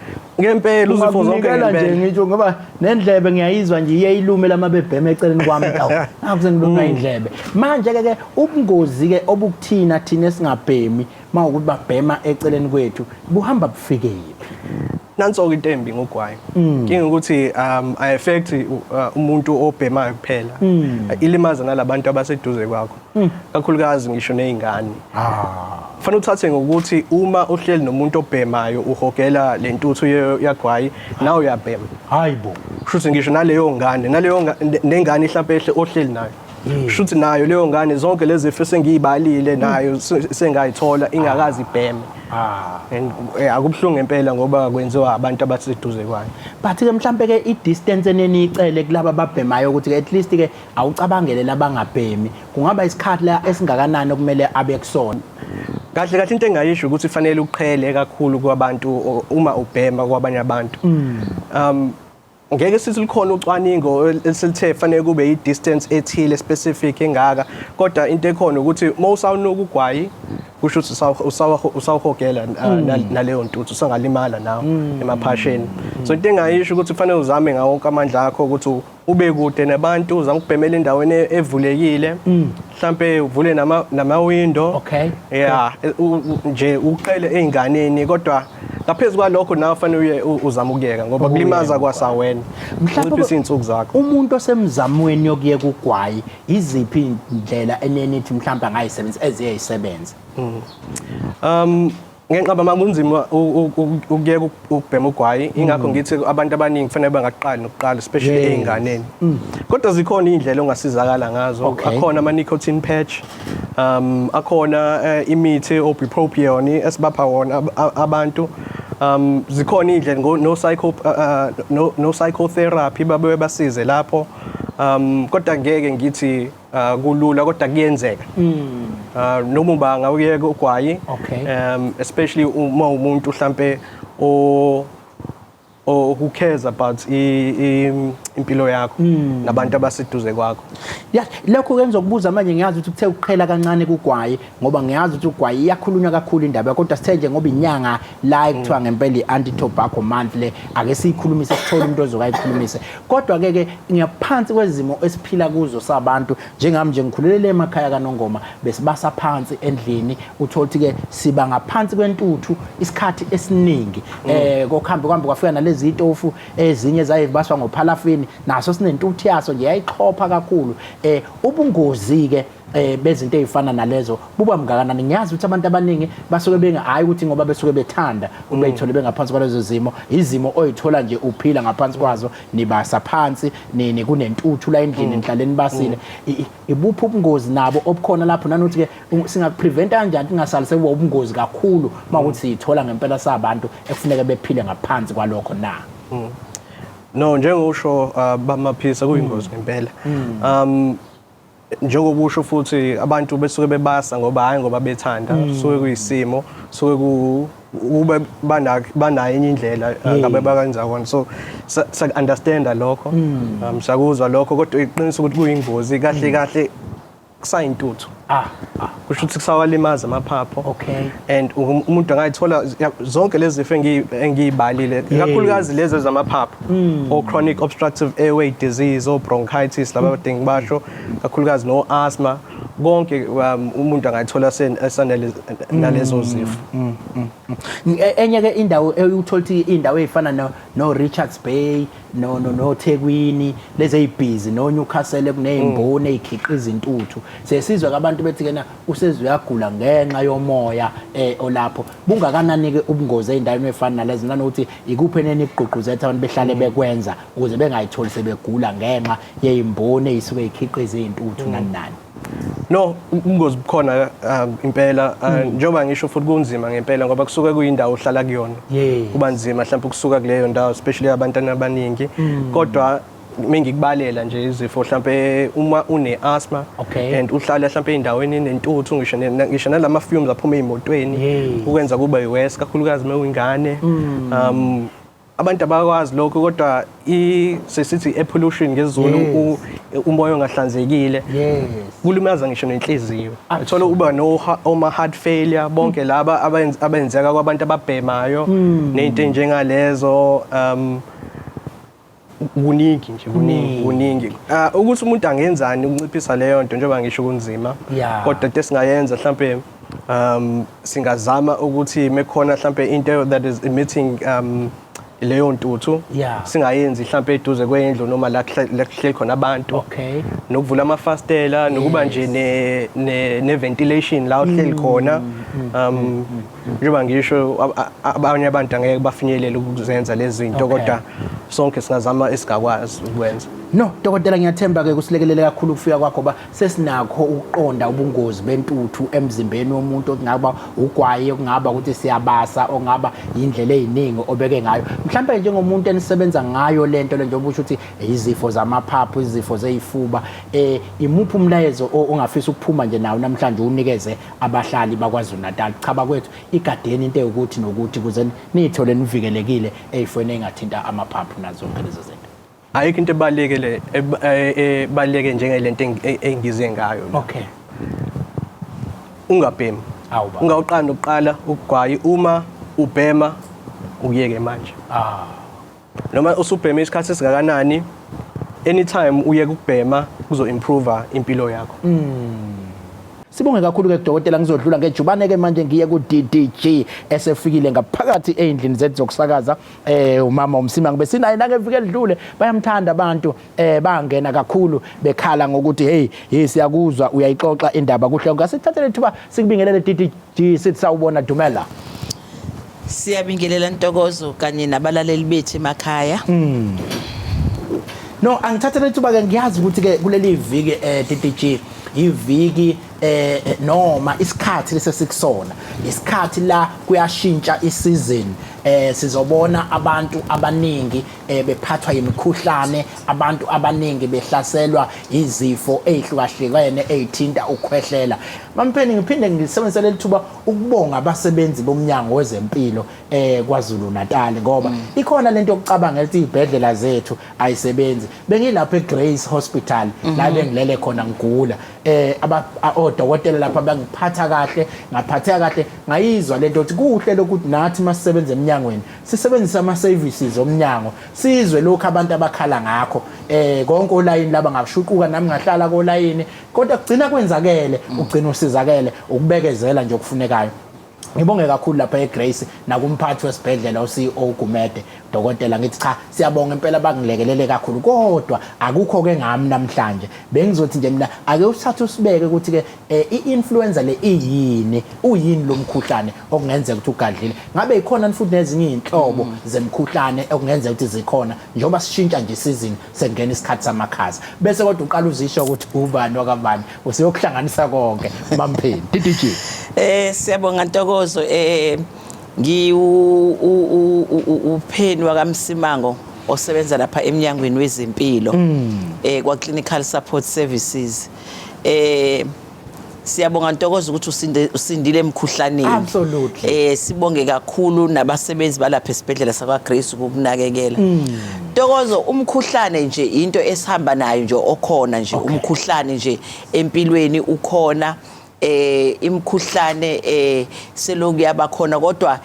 ngempela uzifo zonke ngempela nje ngitsho ngoba nendlebe ngiyayizwa nje iye ilume lamabebhema eceleni kwami tawu akuze ngilunga mm. indlebe manje ke ke ubungozi ke obukuthina thina singabhemi mawukuthi babhema eceleni kwethu buhamba bufikephi nanso-ke into embi ngogwayi mm. kinga ukuthi um i-affect uh, umuntu obhemayo kuphela mm. ilimaza nalabantu abaseduze kwakho hmm. kakhulukazi ngisho nezingane ah fanele uthathe ngokuthi uma uhleli nomuntu obhemayo uhogela lentuthu yagwayi nawe uyabhema hayibo shuthi ngisho naleyo ngane naleyo nengane ihlapehle ohleli nayo hmm. shuthi nayo leyo ngane zonke lezi zifo sengiyibalile hmm. nayo sengayithola ingakazi ibheme ah. and eh, akubuhlungu impela ngoba kwenziwa abantu abaseduze kwayo but ke mhlambe ke i distance eneniyicele kulabo ababhemayo ukuthi at least ke Awucabangele labangabhemi kungaba isikhathi la esingakanani okumele abe kusona. Kahle kahle into engayisho ukuthi fanele uqhele kakhulu kwabantu o- uma ubhema kwabanye abantu. Um ngeke sithi likhona ucwaningo esilithe fanele kube i-distance ethile specific engaka kodwa into ekhona ukuthi uma usawunuka ugwayi kusho ukuthi usawu- usawu- usawuhogela uh, na- naleyo ntuthu usangalimala nawo emaphasheni so into engayisho ukuthi fanele uzame ngawo wonke amandla akho ukuthi u- ube kude nabantu uzama ukubhemela endaweni e- evulekile mhlampe uvule nama namawindo Okay. yeah e- u- u- nje uqele einganeni kodwa ngaphezulu kwalokho nawe fanele uye u- uzama ukuyeka ngoba kulimaza kwasawena Mhlawumbe unciphisa izinsuku zakho umuntu osemzamweni yokuyeka ugwayi iziphi indlela enenithi mhlawumbe angayisebenzisa eziyayisebenza um Ngenqaba mama kunzima ukuyeka ukubhema ugwayi ingakho mm. ngithi abantu abaningi kufanele bangaqali nokuqala especially ezinganeni. Mm. Kodwa zikhona indlela ongasizakala ngazo. Akhona ama nicotine patch. Um akhona eh, imithi obupropion esibapha wona abantu. Um zikhona indlela no psycho uh, uh, no no psychotherapy babe basize lapho. Um kodwa ngeke ngithi uh, kulula kodwa kuyenzeka mm. uh, noma uba ngawuyeka ugwayi okay. um, especially uma umuntu mhlampe o or who cares about impilo yakho hmm. nabantu abaseduze kwakho yeah lokho kenza ukubuza manje ngiyazi ukuthi kuthe ukuqhela kancane kugwaye ngoba ngiyazi ukuthi ugwayi iyakhulunywa kakhulu indaba kodwa sithe nje ngoba inyanga la ekuthiwa mm. ngempela i-anti tobacco month le ake siyikhulumise sithole umuntu ozoke ayikhulumise kodwa ke ke ngiyaphansi kwezimo esiphila kuzo sabantu njengami nje ngikhulelele emakhaya kanongoma besibasa phansi endlini uthole ukuthi ke siba ngaphansi kwentuthu isikhathi esiningi mm. eh kokuhambe kuhambe kwafika nalezi itofu ezinye zaye baswa ngophalafini naso sinentuthu yaso nje yayixhopha kakhulu eh ubungozi ke eh bezinto ezifana nalezo buba mngakanani ngiyazi ukuthi abantu abaningi basuke benga hayi ukuthi ngoba besuke bethanda uma mm. ithole bengaphansi kwalezo zimo izimo oyithola nje uphila ngaphansi kwazo nibasa phansi nini kunentuthu la endlini mm. nihlaleni basile mm. ibuphi ubungozi nabo obukhona lapho nanokuthi ke singakupreventa kanjani singasalise kuba ubungozi kakhulu mawukuthi siyithola ngempela sabantu ekufuneka bephile ngaphansi kwalokho na no njengokusho uh, bamaphisa kuyingozi ngempela um njengoba usho futhi abantu besuke bebasa ngoba hhayi ngoba bethanda mm. suke kuyisimo suke kube banayo enye indlela eh, mm. ngabe bakanza kona so siyaku-understanda lokho mm. um, siyakuzwa lokho kodwa iqinisa ukuthi kuyingozi kahle kahle kusayintuthu ah, ah. kusho ukuthi kusawalimaza amaphapho okay and um, umuntu angayithola zonke lezi zifo engiyibalile kakhulukazi lezi zamaphapho hmm. o chronic obstructive airway disease o bronchitis laba badingi basho kakhulukazi no asthma konke um, umuntu angayithola esanele nalezo mm, zifo mm, mm, e, enye ke indawo eyuthola ukuthi indawo ezifana no Richards Bay no no no Thekwini lezi ezibhizi no Newcastle kuneymboni mm. ezikhiqiza intuthu sesizwe kabantu bethi kena usezwe yagula ngenxa yomoya eh olapho bungakanani ke ubungozi eindaweni efana nalezi nana ukuthi ikuphi eneni igqugquzetha abantu behlale mm. bekwenza ukuze bengayitholi sebegula ngenxa yeymboni ezisuke ikhiqiza intuthu mm. nani nani No, ubungozi bukhona um, impela uh, hmm. njengoba ngisho futhi kunzima ngempela ngoba kusuke kuyindawo ohlala kuyona. Kuba nzima mhlawumbe ukusuka kuleyo ndawo especially abantwana abaningi. Hmm. Kodwa mengikubalela nje izifo mhlambe uma une asthma okay. and uhlala mhlambe endaweni enentuthu ngisho ngisho nalama fumes aphuma emotweni ukwenza kuba worse kakhulukazi mewingane mm. um abantu abakwazi lokho kodwa i sesithi air pollution ngezulu Yes. u- umoya ongahlanzekile yes kulimaza ngisho nenhliziyo Absolutely. uthola uba no ha- oma heart failure bonke laba abenz- abenzeka kwabantu ababhemayo Hmm. nezinto njengalezo um kuningi nje kuningi kuningi Ah, ukuthi umuntu angenzani ukunciphisa leyo nto njengoba ngisho kunzima Yeah. kodwa into esingayenza mhlampe um singazama ukuthi mekhona mhlambe into that is emitting um leyo ntuthu yeah. singayenzi mhlambe eduze kwendlu noma la kuhleli khona abantu okay. nokuvula amafastela yes. nokuba nje ne, ne, ne ventilation la uhleli mm, khona mm, mm, um mm, mm, njengoba ngisho abanye abantu angeke bafinyelele ukuzenza lezi zinto okay. kodwa sonke singazama esigakwazi ukwenza no dokotela ngiyathemba ke kusilekelele kakhulu ukufika kwakho ba sesinakho ukuqonda ubungozi bentuthu emzimbeni womuntu okungaba ugwayi okungaba ukuthi siyabasa ongaba indlela eziningi obeke ngayo mhlawumbe njengomuntu enisebenza ngayo lento le njengoba usho ukuthi izifo zamaphaphu izifo zezifuba eh imuphi umlayezo ongafisa ukuphuma nje nawo namhlanje unikeze abahlali bakwaZulu Natal cha bakwethu igadeni into ukuthi nokuthi kuze nithole nivikelekile ezifweni engathinta amaphaphu nazonke lezo zinto ayikho into ebaluleke le ebaluleke njengelento engize ngayo okay ungabhemi ungawuqanda ukuqala ukugwayi uma ubhema ukuyeke manje ah noma usubheme isikhathi esingakanani anytime uye kubhema kuzo improve impilo yakho mm. Sibonge kakhulu ke dokotela ngizodlula ngejubane ke manje ngiye ku DDG esefikile ngaphakathi eindlini zethu zokusakaza eh umama umsima ngibe sinaye nake vike lidlule bayamthanda abantu eh bangena kakhulu bekhala ngokuthi hey hey siyakuzwa uyayixoxa indaba kuhle ngasithathele thuba sikubingelele DDG sithi sawubona Dumela Siyabingelela Ntokozo kanye nabalaleli bethu emakhaya mm. No angithathele thuba ke ngiyazi ukuthi ke kuleli viki eh DDG iviki eh noma isikhathi lesesikusona isikhathi la kuyashintsha isizini eh sizobona abantu abaningi eh, bephathwa yimikhuhlane abantu abaningi behlaselwa izifo ezihlukahlukene ezithinta ukukhwehlela mampheni ngiphinde ngisebenzise leli thuba ukubonga abasebenzi bomnyango wezempilo eh kwaZulu Natal ngoba mm. ikhona lento yokucabanga ukuthi izibhedlela zethu ayisebenzi bengilapha eGrace Hospital la mhm. bengilele khona ngigula eh aba odokotela lapha bangiphatha kahle ngaphatheka kahle ngayizwa lento ukuthi kuhle lokuthi nathi masisebenza eminyangweni sisebenzisa ama services omnyango sizwe lokho abantu abakhala ngakho eh konke olayini laba ngashuquka nami ngahlala kolayini kodwa kugcina kwenzakele ugcina usizakele ukubekezela nje okufunekayo Ngibonge kakhulu lapha eGrace nakumphathi wesibhedlela uCEO Gumede dokotela ngithi cha siyabonga impela bangilekelele kakhulu kodwa akukho ke ngami namhlanje bengizothi nje mina ake usithathe usibeke ukuthi ke eh, i-influenza le iyini uyini lo mkhuhlane okungenzeka ukuthi ugadlile ngabe ikhona futhi nezinye izinhlobo mm. zemkhuhlane okungenzeka ukuthi zikhona njengoba sishintsha nje isizini sengena isikhathi samakhaza bese kodwa uqala uzisho ukuthi ubani wakabani useyokuhlanganisa konke mampheni DDG eh siyabonga ntokozo eh ngi upheni wakamsimango osebenza lapha emnyangweni wezempilo mm. eh kwa clinical support services eh Siyabonga Ntokozo ukuthi usinde usindile emkhuhlaneni. Absolutely. Eh sibonge kakhulu nabasebenzi balapha esibhedlela sakwa Grace ukukunakekela. Ntokozo umkhuhlane nje into esihamba nayo nje okhona nje umkhuhlane nje empilweni ukhona eh imkhuhlane eh seloku yabakhona kodwa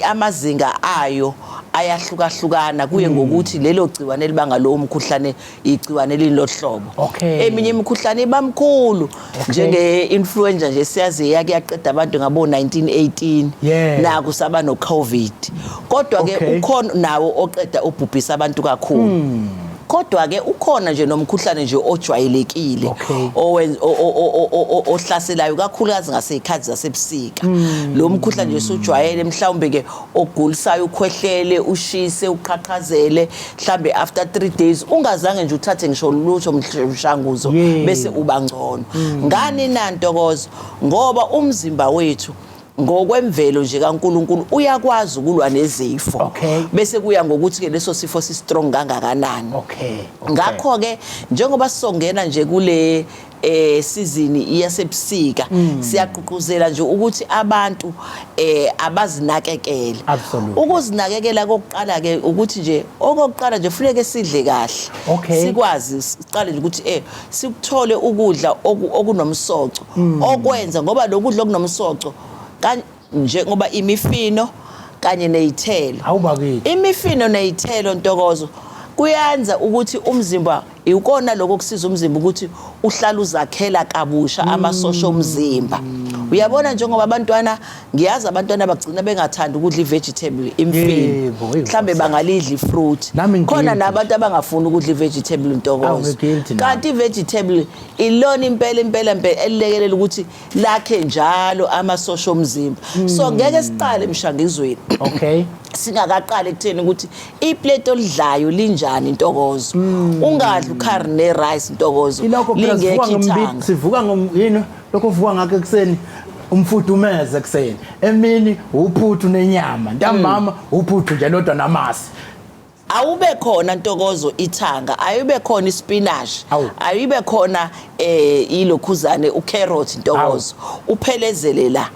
amazinga ayo ayahlukahlukana kuye hmm. ngokuthi lelo gciwane elibanga lowo mkhuhlane igciwane elilohlobo okay. eminye imikhuhlane iba mkhulu okay. njenge-influenza nje siyazi yake yaqeda abantu ngabo-1918 yeah. naku saba no-covid kodwa-ke okay. ukhona nawo oqeda obhubhisa abantu kakhulu hmm. kodwa ke ukhona nje nomkhuhlane nje ojwayelekile Okay. owen- o- o- o- o- o- o- ohlaselayo kakhulukazi ngasey'khathi zasebusika Hmm. lo mkhuhlane nje sujwayele mhlawumbe ke ogulisayo ukhwehlele ushise uqhaqhazele mhlawumbe after three days ungazange nje uthathe ngisho lutho mhl- mshanguzo Yeah. Hmm. bese uba ngcono ngani nantokozo ngoba umzimba wethu ngokwemvelo nje kaNkuluNkulu uyakwazi ukulwa nezifo okay. bese kuya ngokuthi ke leso sifo si strong kangakanani okay. okay. ngakho ke njengoba sisongena nje kule eh sizini iyasebusika mm. siyaqhuquzela nje ukuthi abantu eh abazinakekele ukuzinakekela kokuqala ke ukuthi nje okokuqala nje funeke sidle kahle sikwazi siqale nje ukuthi eh sikuthole ukudla okunomsoco mm. okwenza ngoba lokudla okunomsoco kanje ngoba imifino kanye nezithelo awubakithi imifino nezithelo ntokozo kuyenza ukuthi umzimba ikona lokho kusiza umzimba ukuthi uhlala uzakhela kabusha amasosha omzimba uyabona njengoba abantwana ngiyazi abantwana bagcina bengathandi ukudla i-vegetable imfino Yebo, yebo, mhlawumbe sa- bangalidla ifruit Nami ngi- khona nabantu abangafuni ukudla i-vegetable Awu, ntokozo ngi-guilty nami. kanti i-vegetable ilona impela impela mpela elilekelela ukuthi lakhe njalo amasosha omzimba Hmm. so ngeke siqale emshangizweni okay singakaqali ekutheni ukuthi iplate olidlayo linjani intokozo ungadli ucarne rice intokozo Hmm. ilokho phela sivuka lingekho ngombi- ithanga sivuka ngom- yini lokho vuka ngakho ekuseni umfudumeze ekuseni emini uphuthu nenyama ntambama hmm. uphuthu nje lodwa namasi awube khona ntokozo ithanga ayube khona ispinach ayibe khona eh ilokhuzane ucarrot ntokozo uphelezele la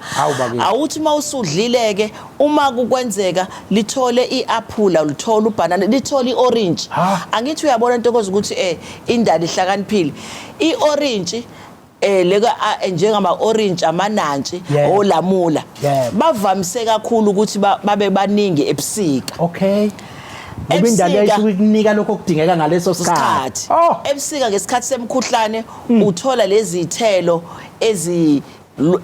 awuthi mawusudlile ke uma kukwenzeka lithole iapula lithole ubanana lithole iorange angithi uyabona ntokozo ukuthi eh indali ihlakaniphile iorange eh leka njengama orange amanantshi olamula bavamise kakhulu ukuthi babe baningi ebusika okay ngoba indalo yayisuke ikunika lokho okudingeka ngaleso sikhathi oh! ebusika ngesikhathi semkhuhlane hmm. uthola lezi zithelo ezi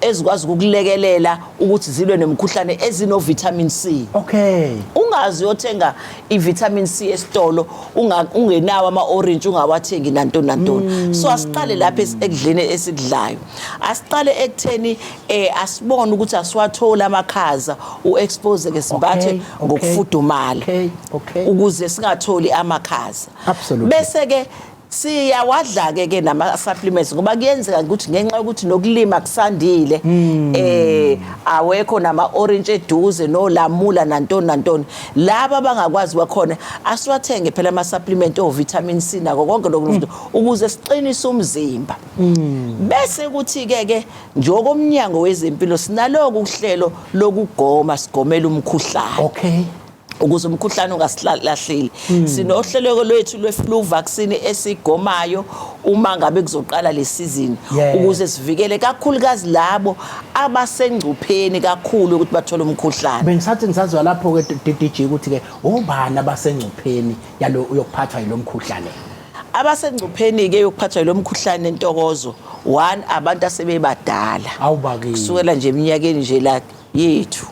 ezikwazi ukukulekelela ukuthi zilwe nemkhuhlane ezino vitamin C okay ungazi uyothenga i-vitamin C esitolo ungenawo ama-orange ungawathengi nantoni nantoni mm. so asiqale lapha ekudleni esikudlayo asiqale ekutheni eh asibone ukuthi asiwatholi amakhaza u-expose ke simbathe ngokufudumala ukuze singatholi amakhaza bese ke siyawadla-ke ke nama-supplements ngoba kuyenzeka ukuthi ngenxa yokuthi nokulima kusandile um awekho nama-orintshi eduze nolamula nantoni nantoni laba abangakwazi bakhona asiwathenge phela ama-supplement ovitamin c nako konke loku mm. ukuze siqinise umzimba mm. bese kuthi-ke ke njengokomnyango wezempilo sinaloko uhlelo lokugoma sigomela umkhuhlane okay ukuze umkhuhlane ungasilahleli hmm. sinohleleko lwethu lwe-flu vaccine esigomayo uma ngabe kuzoqala le sizini ukuze sivikele kakhulukazi labo abasengcupheni kakhulu ukuthi bathole umkhuhlane bengisathi ngisazwa lapho-ke DDG ukuthi-ke obani abasengcupheni yalo yokuphathwa yilo mkhuhlane abasengcupheni-ke yokuphathwa yilo mkhuhlane entokozo one abantu asebebadala kusukela nje eminyakeni nje la yethu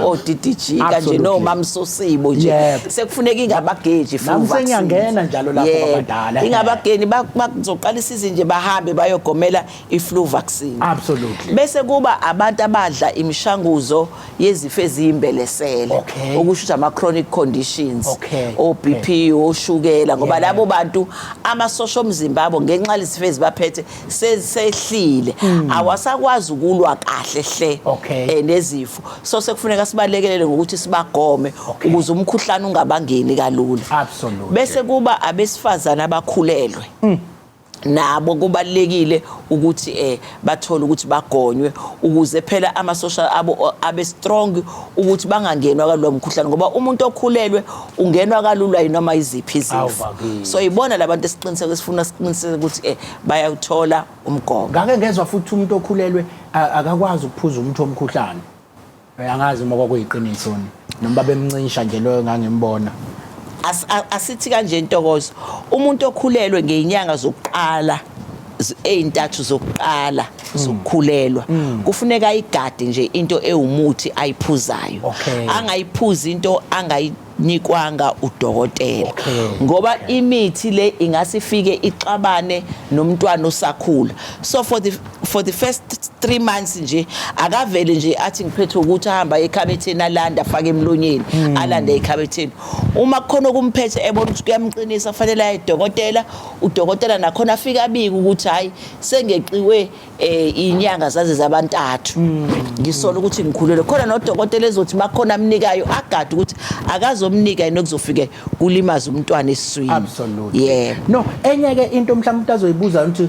odidiji kanje nomamsosibo nje sekufuneka ingabageji fusenyangena njalo lapho abadala ingabageni bazoqala isizini nje bahambe bayogomela i-flu vaccine absolutely bese kuba abantu abadla imishanguzo yezifo eziyimbelesele okusho ukuthi ama-chronic conditions o-bp oshukela ngoba labo bantu amasosha omzimba abo ngenxa lezifo ezibaphethe sesehlile hmm. awasakwazi ukulwa kahle hle eh, nezifo so sekufuneka sibalekelele ngokuthi sibagome ukuze umkhuhlane ungabangeni kalula bese kuba abesifazane abakhulelwe hmm. nabo kubalekile ukuthi eh bathole ukuthi bagonywe ukuze phela ama social abo abe strong ukuthi bangangenwa kalomkhuhlane ngoba umuntu okhulelwe ungenwa kalula yinoma iziphi izifo so yibona labantu esiqiniseko esifuna siqiniseke ukuthi eh bayawuthola umgomo ngake ngezwa futhi umuntu okhulelwe akakwazi ukuphuza umuthi omkhuhlane eh, angazi uma kwakuyiqiniso noma bemncisha nje loyo ngangimbona asithi kanje intokozo umuntu okhulelwe ngeenyanga zokuqala ezintathu zokuqala mm. zokukhulelwa mm. kufuneka ayigade nje into ewumuthi ayiphuzayo angayiphuzi into angayi nikwanga udokotela okay. ngoba okay. imithi le ingase ifike ixabane nomntwana osakhula so for the for the first 3 months nje akavele nje athi ngiphethe ukuthi ahamba ekhabetheni alanda afake emlonyeni hmm. alanda ekhabetheni uma kukhona okumphethe ebona ukuthi kuyamqinisa fanele aye dokotela udokotela nakhona afike abike ukuthi hayi sengeqiwe eh inyanga zaze zabantathu ngisola ukuthi ngikhulelwe khona nodokotela ezothi makhona amnikayo agade ukuthi akazomnika yini okuzofike kulimaza umntwana esiswini absolutely yeah no enye ke into mhlawumbe umuntu azoyibuza ukuthi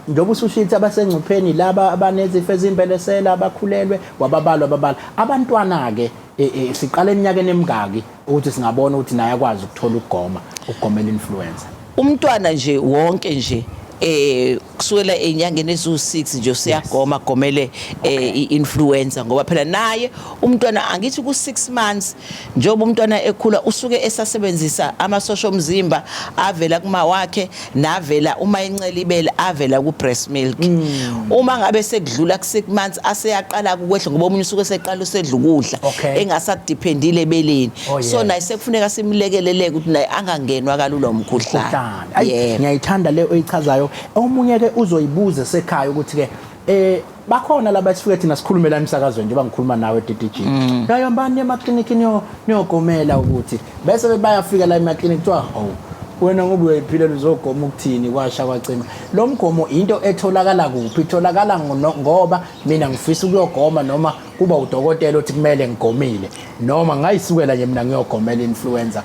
njengoba usushithi abasengcupheni laba abanezifo ezimbelesela abakhulelwe wababalwa ababala abantwana ke e, e, siqala eminyakeni emingaki ukuthi singabona ukuthi naye akwazi ukuthola ukugoma ukugomela influencer umntwana nje wonke nje eh kusukela enyangeni eziwu6 nje usiyagoma gomele eh, i-influencer ngoba phela naye umntwana angithi ku6 months njengoba umntwana ekhula usuke esasebenzisa amasosha omzimba avela kuma wakhe navela uma incela ibele avela ku breast milk mm. uma ngabe sekudlula ku 6 months aseyaqala ukwehla ngoba omunye usuke seqala usedla ukudla okay. engasadependile ebeleni oh, yes. so naye sekufuneka simlekeleleke ukuthi naye angangenwa kalula umkhuhlane ngiyayithanda yeah. le oyichazayo omunye ke uzoyibuza sekhaya ukuthi ke eh bakhona laba esifike thina sikhulumela emsakazweni njengoba ngikhuluma nawe DDG mm. yayombani emaklinikhi niyo niyogomela ukuthi bese bayafika la emaklinikhi kuthiwa oh wena ngoba uyayiphilela uzogoma ukuthini kwasha kwacima lo mgomo into etholakala kuphi itholakala ngoba mina ngifisa ukuyogoma noma kuba udokotela othi kumele ngigomile noma ngayisukela nje mina ngiyogomela influenza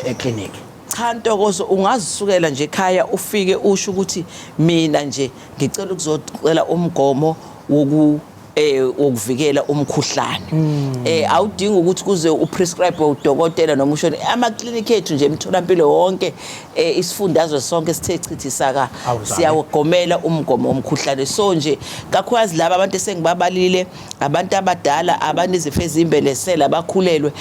eclinic e, e, e, cha ntokozo ungazisukela nje ekhaya ufike usho ukuthi mina nje ngicela ukuzocela umgomo woku eh wokuvikela umkhuhlane hmm. eh awudingi ukuthi kuze uprescribe udokotela noma ushone ama clinic ethu nje emtholampilo wonke eh, isifundazwe sonke sithe chithi saka siyawugomela umgomo omkhuhlane so nje kakhulukazi laba abantu esengibabalile abantu abadala abanezifo ezimbelesela abakhulelwe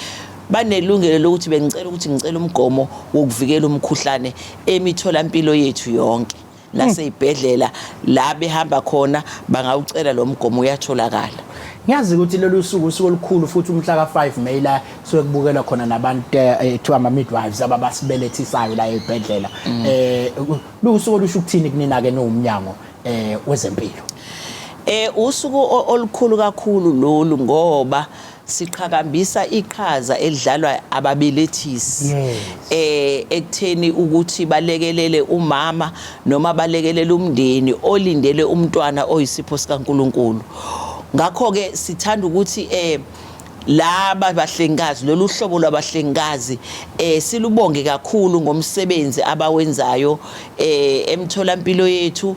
banelungelo lokuthi bengicela ukuthi ngicela umgomo wokuvikela umkhuhlane emitholampilo yethu yonke naseyibhedlela la behamba khona bangawucela lo mgomo uyatholakala ngiyazi ukuthi lolu suku usuku olukhulu futhi umhla ka-5 may la suke kubukelwa khona nabantu eh, eh, kuthiwa ama-midwives ababasibelethisayo la ey'bhedlela um eh, luwusuku olusho ukuthini kunina-ke niwumnyango um wezempilo um usuku olukhulu kakhulu lolu ngoba siqhakambisa iqhaza elidlalwa ababelethisi eh ekutheni ukuthi balekelele umama noma balekelele umndeni olindele umntwana oyisipho sikaNkuluNkulu ngakho ke sithanda ukuthi eh laba bahlengikazi lolu hlobo lwabahlengikazi eh silubonge kakhulu ngomsebenzi abawenzayo eh emtholampilo yethu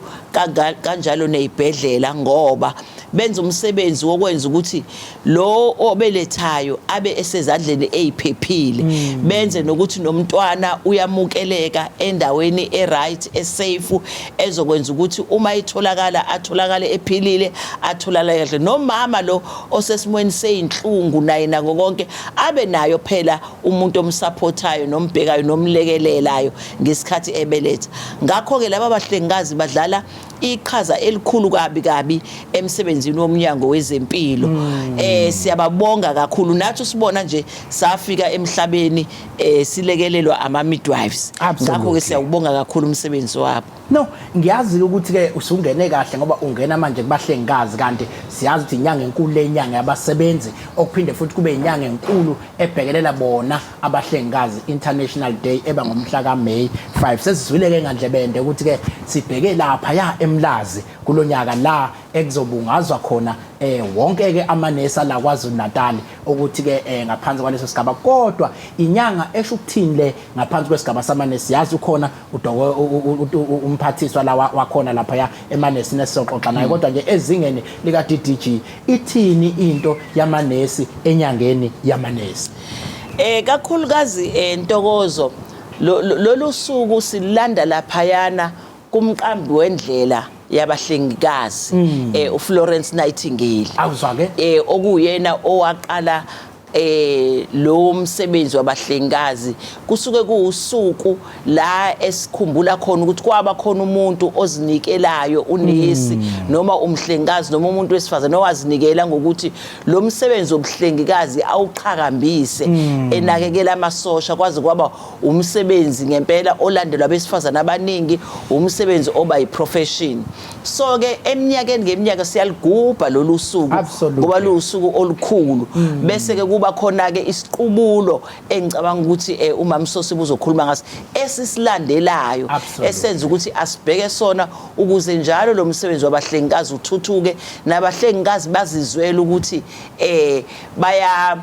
kanjalo nezibhedlela ngoba benza umsebenzi wokwenza ukuthi lowo obelethayo abe esezandleni eziphephile mm. benze nokuthi nomntwana uyamukeleka endaweni eright esafe ezokwenza ukuthi uma itholakala atholakale ephilile atholakale kahle nomama lo osesimweni seyinhlungu naye nako konke abe nayo phela umuntu omsupportayo nombhekayo nomlekelelayo ngesikhathi ebeletha ngakho ke laba bahlengikazi badlala iqhaza elikhulu kabi kabi emsebenzini womnyango wezempilo mm. eh siyababonga kakhulu nathi sibona nje safika emhlabeni eh silekelelwa ama midwives ngakho ke siyawubonga kakhulu umsebenzi wabo no ngiyazi ukuthi ke usungene kahle ngoba ungena manje kubahlengikazi kanti siyazi ukuthi inyanga enkulu lenyanga yabasebenzi okuphinde futhi kube inyanga enkulu ebhekelela bona abahlengikazi International Day eba ngomhla ka May 5 sesizwile ke ngandlebende ukuthi ke sibheke lapha ya emlazi kulonyaka la ekuzobungazwa khona eh wonke ke amanesa la kwaZulu Natal ukuthi ke eh, ngaphansi kwaleso sigaba kodwa inyanga esho ukuthini le ngaphansi kwesigaba samanesi yazi ukhona udoko umphathiswa la wakhona lapha ya emanesi nesoxoxa naye kodwa nje ezingeni lika DDG ithini into yamanesi enyangeni yamanesi Eh kakhulukazi eh, Ntokozo lolu suku silanda laphayana kumqambi wendlela yabahlengikazi hmm. eh uFlorence Nightingale awuzwake eh okuyena owaqala eh lo msebenzi wabahlengikazi kusuke kuwusuku la esikhumbula khona ukuthi kwaba khona umuntu ozinikelayo unesi mm. noma umhlengikazi noma umuntu wesifazane owazinikela ngokuthi lo msebenzi wobuhlengikazi awuqhakambise mm. enakekela amasosha kwaze kwaba umsebenzi ngempela olandelwa abesifazane abaningi umsebenzi oba yiprofession so ke eminyakeni ngeminyaka siyaligubha lolu suku ngoba luwusuku olukhulu mm. bese ke kuba khona ke isiqubulo engicabanga ukuthi eh, umamsosi buzokhuluma ngaso esisilandelayo esenza ukuthi asibheke sona ukuze njalo lo msebenzi wabahlengikazi uthuthuke nabahlengikazi bazizwele ukuthi eh baya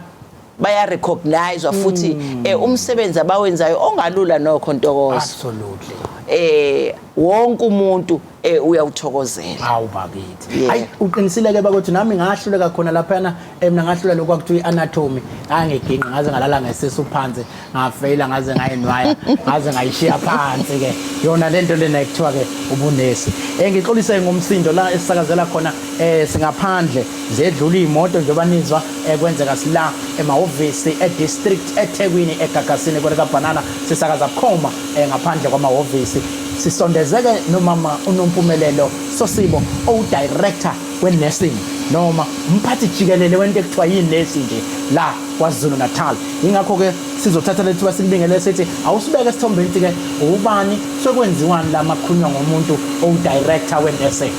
baya recognize futhi hmm. eh, umsebenzi abawenzayo ongalula nokho ntokozo absolutely eh wonke umuntu eh, uyawuthokozela hawu bakithi hayi uqinisileke bakwethu nami ngahluleka khona laphana eh, mina ngahlula lokhu akuthiwa i-anatomy ngangigingqa ngaze ngalala ngesisu phansi ngafeyila ngaze ngayinwaya ngaze ngayishiya phansi-ke yona le nto lena ekuthiwa-ke ubunesi um eh, ngixolise ngomsindo la esisakazela khona um singaphandle zedlula iy'moto njengoba nizwa um kwenzeka sila emahhovisi edistrict ethekwini egagasini kwelikabhanana sisakaza bukhoma eh, ngaphandle kwamahhovisi sisondezeke nomama unompumelelo sosibo owudirector we-nursing noma umphathi jikelele wento ekuthiwa yinesi nje la kwazulu natal yingakho-ke sizothatha lethiwa sikubingelele sithi awusibeke esithombeni ukuthi-ke ubani sekwenziwani la makhulunywa ngomuntu owudirector we-nursing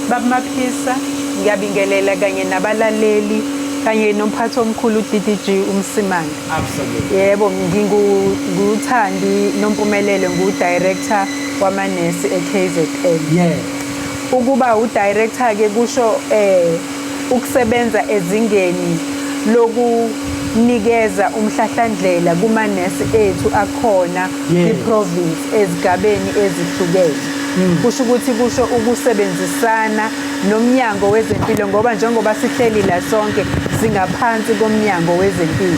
babumaphisa ngiyabingelela kanye nabalaleli kanye nomphathi omkhulu uddg umsimane Absolutely. Yebo, nginguthandi nompumelelo ngu-director wamanesi e-KZN. Yeah. Ukuba udirector ke kusho eh ukusebenza ezingeni lokunikeza umhlahlandlela kumanesi ethu akhona kwi-province ezigabeni ezihlukene. Hmm. Kusho ukuthi kusho ukusebenzisana nomnyango wezempilo ngoba njengoba sihleli la sonke singaphansi komnyango wezempilo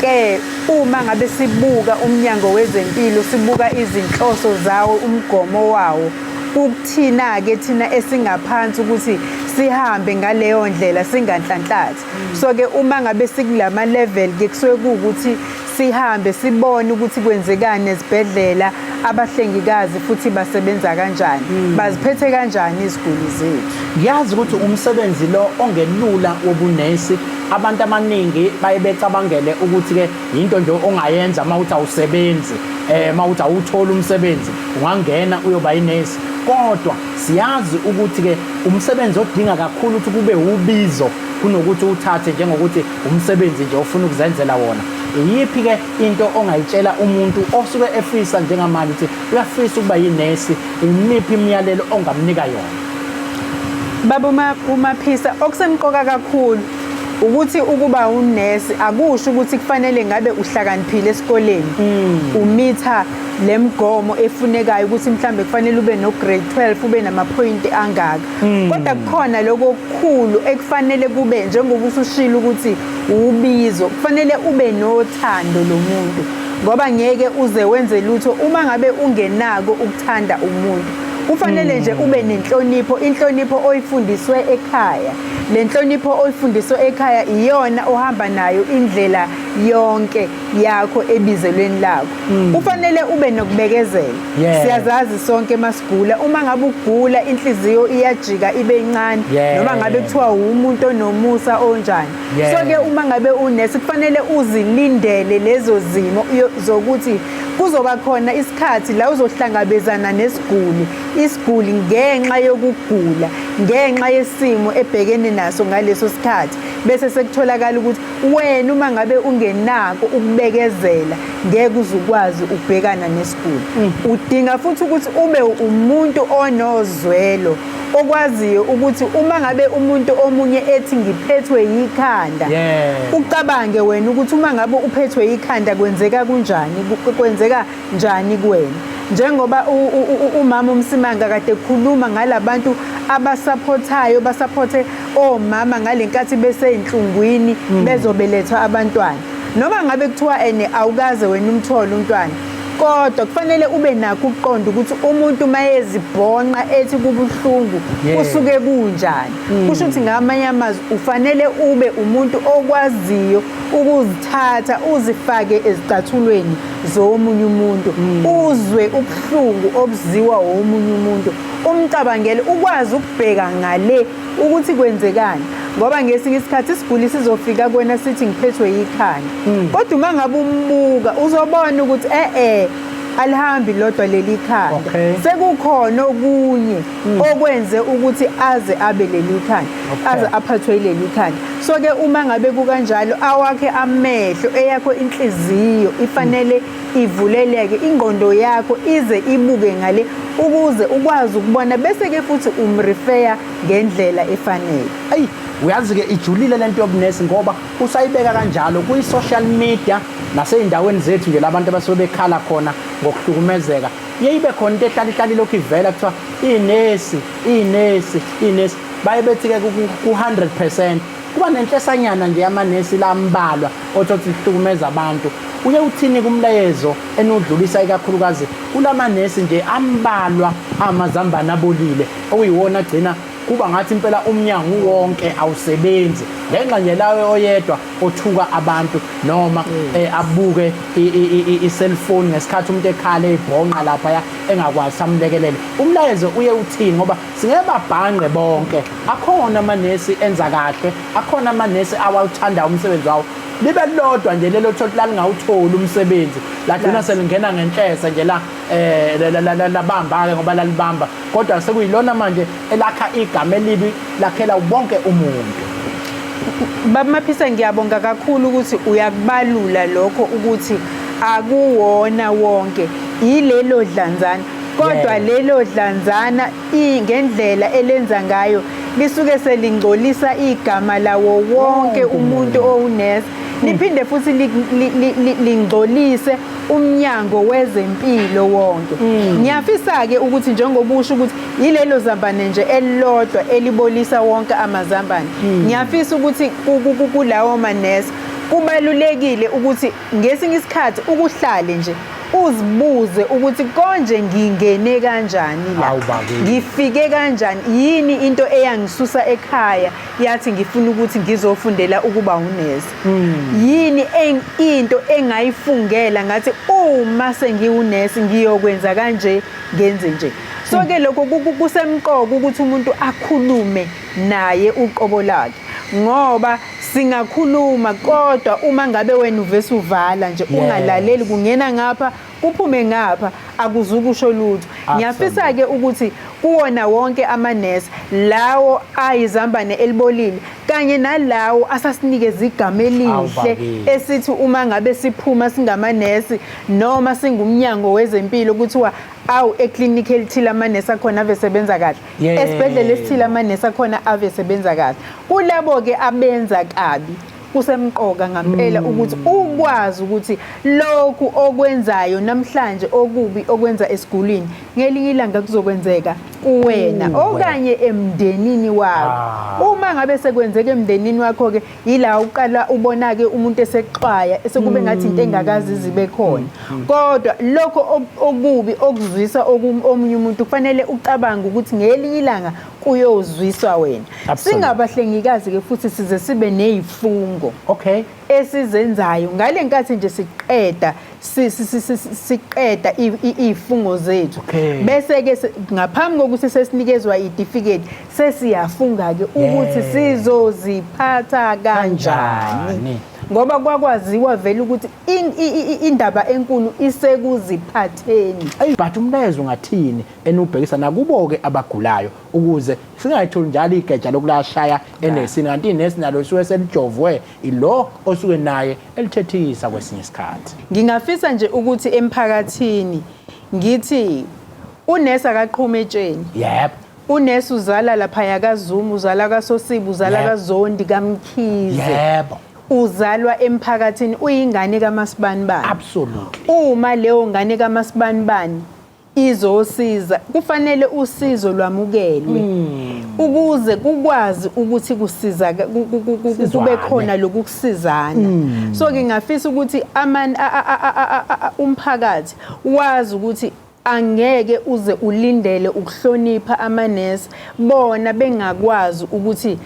ke uma ngabe sibuka umnyango wezempilo sibuka izinhloso zawo umgomo wawo ukuthina ke thina esingaphansi ukuthi sihambe ngaleyo ndlela singanhlanhlathi so ke uma ngabe sikulama level ke kusuke ukuthi sihambe sibone ukuthi kwenzekani ezibhedlela abahlengikazi futhi basebenza kanjani hmm. baziphethe kanjani iziguli zethu ngiyazi ukuthi umsebenzi lo ongelula wobunesi abantu abaningi baye becabangele ukuthi-ke yinto nje ongayenza uma uthi awusebenzi um uma uthi awutholi umsebenzi ungangena uyoba yinesi kodwa siyazi ukuthi-ke umsebenzi odinga kakhulu ukuthi kube wubizo kunokuthi uthathe njengokuthi Umsebenzi nje ofuna ukuzenzela wona. Iyiphi-ke into ongayitshela umuntu osuke efisa njengamanje ukuthi uyafisa ukuba yinesi? Imiphi imiyalelo ongamnika yona? Baba uma umaphisa okusemqoka kakhulu ukuthi ukuba unesi akusho ukuthi kufanele ngabe uhlakaniphile esikoleni mm. umitha lemgomo efunekayo ukuthi mhlambe kufanele ube no grade 12 ube namaphoyinti angaka hmm. kodwa kukhona lokho okukhulu ekufanele kube njengoba usushilo ukuthi ubizo kufanele ube nothando lomuntu ngoba ngeke uze wenze lutho uma ngabe ungenako ukuthanda umuntu kufanele hmm. nje ube nenhlonipho inhlonipho oyifundiswe ekhaya le nhlonipho oyifundiswe ekhaya iyona ohamba nayo indlela yonke yakho ebizelweni lakho Mm. Kufanele ube nokubekezela. Yeah. Siyazazi sonke masigula uma ngabe ugula inhliziyo iyajika ibe incane yeah. noma ngabe kuthiwa umuntu onomusa onjani. Yeah. So ke uma ngabe unesi kufanele uzilindele lezo zimo zokuthi kuzoba khona isikhathi la uzohlangabezana nesiguli isiguli ngenxa yokugula ngenxa yesimo ebhekene naso ngaleso sikhathi bese sekutholakala ukuthi wena uma ngabe ungenako ukubekezela ngeke uzukwazi ukubhekana nesiguli mm. udinga futhi ukuthi ube umuntu onozwelo okwaziyo ukuthi uma ngabe umuntu omunye ethi ngiphethwe yikhanda ucabange wena ukuthi uma ngabe uphethwe yikhanda kwenzeka kunjani kwenzeka njani kuwena njengoba umama umsimanga kade khuluma ngalabantu abasaphothayo basaphothe omama ngalenkathi beseyinhlungwini mm. bezobelethwa abantwana noma ngabe kuthiwa ene awukaze wena umthole umntwana kodwa kufanele ube nakho ukuqonda ukuthi umuntu mayezibhonqa ethi kubuhlungu kusuke kunjani hmm. kusho ukuthi ngamanye amazwi ufanele ube umuntu okwaziyo ukuzithatha uzifake ezicathulweni zowomunye umuntu mm. uzwe ubuhlungu obuziwa womunye umuntu umcabangele ukwazi ukubheka ngale ukuthi kwenzekani ngoba ngesinye isikhathi isiguli sizofika kwena sithi ngiphethwe yikhanda mm. kodwa uma ngabe umbuka uzobona ukuthi eh eh alihambi lodwa leli khanda sekukhona okunye mm. okwenze ukuthi aze abe leli khanda okay. aze aphathwe ileli khanda so ke uma ngabe kukanjalo awakhe amehlo eyakho inhliziyo ifanele mm. ivuleleke ingqondo yakho ize ibuke ngale ukuze ukwazi ukubona bese ke futhi umrefer ngendlela efanele ayi uyazi ke ijulile lento yobunesi ngoba usayibeka kanjalo kwi social media nasey'ndaweni zethu nje labantu abasuke bekhala khona ngokuhlukumezeka iye ibe khona into ehlala ihlala ilokhu ivela kuthiwa inesi inesi inesi baye bethi-ke ku-100 percent kuba nenhlesanyana nje yamanesi lambalwa othothi lihlukumeza abantu uye uthini kumlayezo enudlulisa ikakhulukazi kulamanesi nje ambalwa amazambane abolile okuyiwona agcina kuba ngathi impela umnyango wonke awusebenzi ngenxa nje lawe oyedwa othuka abantu noma mm. eh, abuke i-cellphone ngesikhathi umuntu ekhala ebhonqa lapha ya engakwazi samlekelele umlayezo uye uthini ngoba singeke babhanqe bonke akhona amanesi enza kahle akhona amanesi awawuthanda umsebenzi wawo libe lodwa nje lelo thoti lalingawutholi umsebenzi lagcina selingena ngenhlese nje la eh labamba ke ngoba lalibamba kodwa sekuyilona manje elakha igama elibi lakhela wonke umuntu Baba Maphisa ngiyabonga kakhulu ukuthi uyakubalula lokho ukuthi akuwona wonke yilelo dlanzana kodwa yeah. lelo dlanzana ngendlela elenza ngayo lisuke selingcolisa igama lawo wonke umuntu owunesi liphinde futhi lingcolise umnyango wezempilo wonke mm. ngiyafisa-ke ukuthi njengoba usho ukuthi yilelo zambane nje elilodwa elibolisa wonke amazambane mm. ngiyafisa ukuthi kulawo manesi kubalulekile ukuthi ngesinye isikhathi ukuhlale nje uzibuze ukuthi konje ngingene kanjani la ngifike kanjani yini into eyangisusa ekhaya yathi ngifuna ukuthi ngizofundela ukuba unesi hmm. yini into engayifungela ngathi uma sengiwunesi ngiyokwenza kanje ngenze nje so ke lokho kusemqoka ukuthi umuntu akhulume naye uqobo lakhe ngoba singakhuluma kodwa uma ngabe wena uvese uvala nje ungalaleli kungena ngapha kuphume ngapha akuzukusho lutho ngiyafisa ke ukuthi kuwona wonke amanesi lawo ayizambane elibolile kanye nalawo asasinikeza igama elihle esithi uma ngabe siphuma singamanesi noma singumnyango wezempilo kuthiwa awu eclinic elithile amanesi akhona ave sebenza kahle esibhedlela esithile amanesi akhona ave sebenza kahle kulabo ke abenza kabi kusemqoka ngampela mm. ukuthi ukwazi ukuthi lokhu okwenzayo namhlanje okubi okwenza esigulini ngelinye ilanga kuzokwenzeka kuwena mm. okanye emndenini wakho ah. uma ngabe sekwenzeka emndenini wakho ke yila uqala ubona ke umuntu esexwaya esekube mm. ngathi into engakazi zibe khona kodwa lokho okubi okuzwisa omunye umuntu kufanele ucabange ukuthi ngelinye ilanga kuyozwiswa wena singabahlengikazi ke futhi size sibe nezifungo okay esizenzayo ngale nkathi nje siqeda siqeda izifungo zethu bese ke ngaphambi kokuthi sesinikezwa idifiketi sesiyafunga ke ukuthi sizoziphatha kanjani ngoba kwakwaziwa vele ukuthi indaba enkulu isekuziphatheni ayi but umlayezo ngathini enubhekisa nakubo-ke abagulayo ukuze singayitholi njalo igeja lokulashaya enesini kanti inesi nalo lisuke selijovwe ilo osuke naye elithethisa kwesinye isikhathi ngingafisa nje ukuthi emphakathini ngithi unesi akaqhume etsheni yep unesi uzala laphaya kazumu uzala kasosiba uzala yep. kazondi kamkhize yebo uzalwa emphakathini uyingane kamasibani bani absolutely uma leyo ngane kamasibani bani izosiza kufanele usizo lwamukelwe hmm. ukuze kukwazi ukuthi kusiza kube khona lokukusizana hmm. so ngingafisa ukuthi aman umphakathi wazi ukuthi angeke uze ulindele ukuhlonipha amanesi bona bengakwazi ukuthi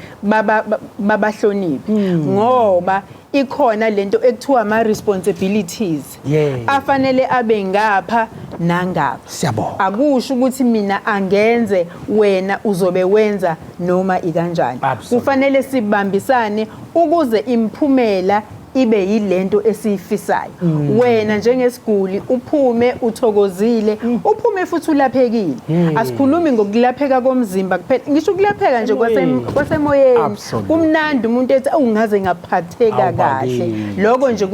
babahloniphe hmm. ngoba ikhona lento ekuthiwa ama responsibilities Yeah. afanele abe ngapha nangapha Siyabonga. akusho ukuthi mina angenze wena uzobe wenza noma ikanjani Absolutely. kufanele sibambisane ukuze imphumela ibe yilento esiyifisayo Mm. wena njengesiguli uphume uthokozile Mm. uphume futhi ulaphekile asikhulumi ngokulapheka komzimba kuphela ngisho ukulapheka nje kwase- Emoyeni. kwasemoyeni kumnandi umuntu ethi awungaze ngaphatheka kahle lokho nje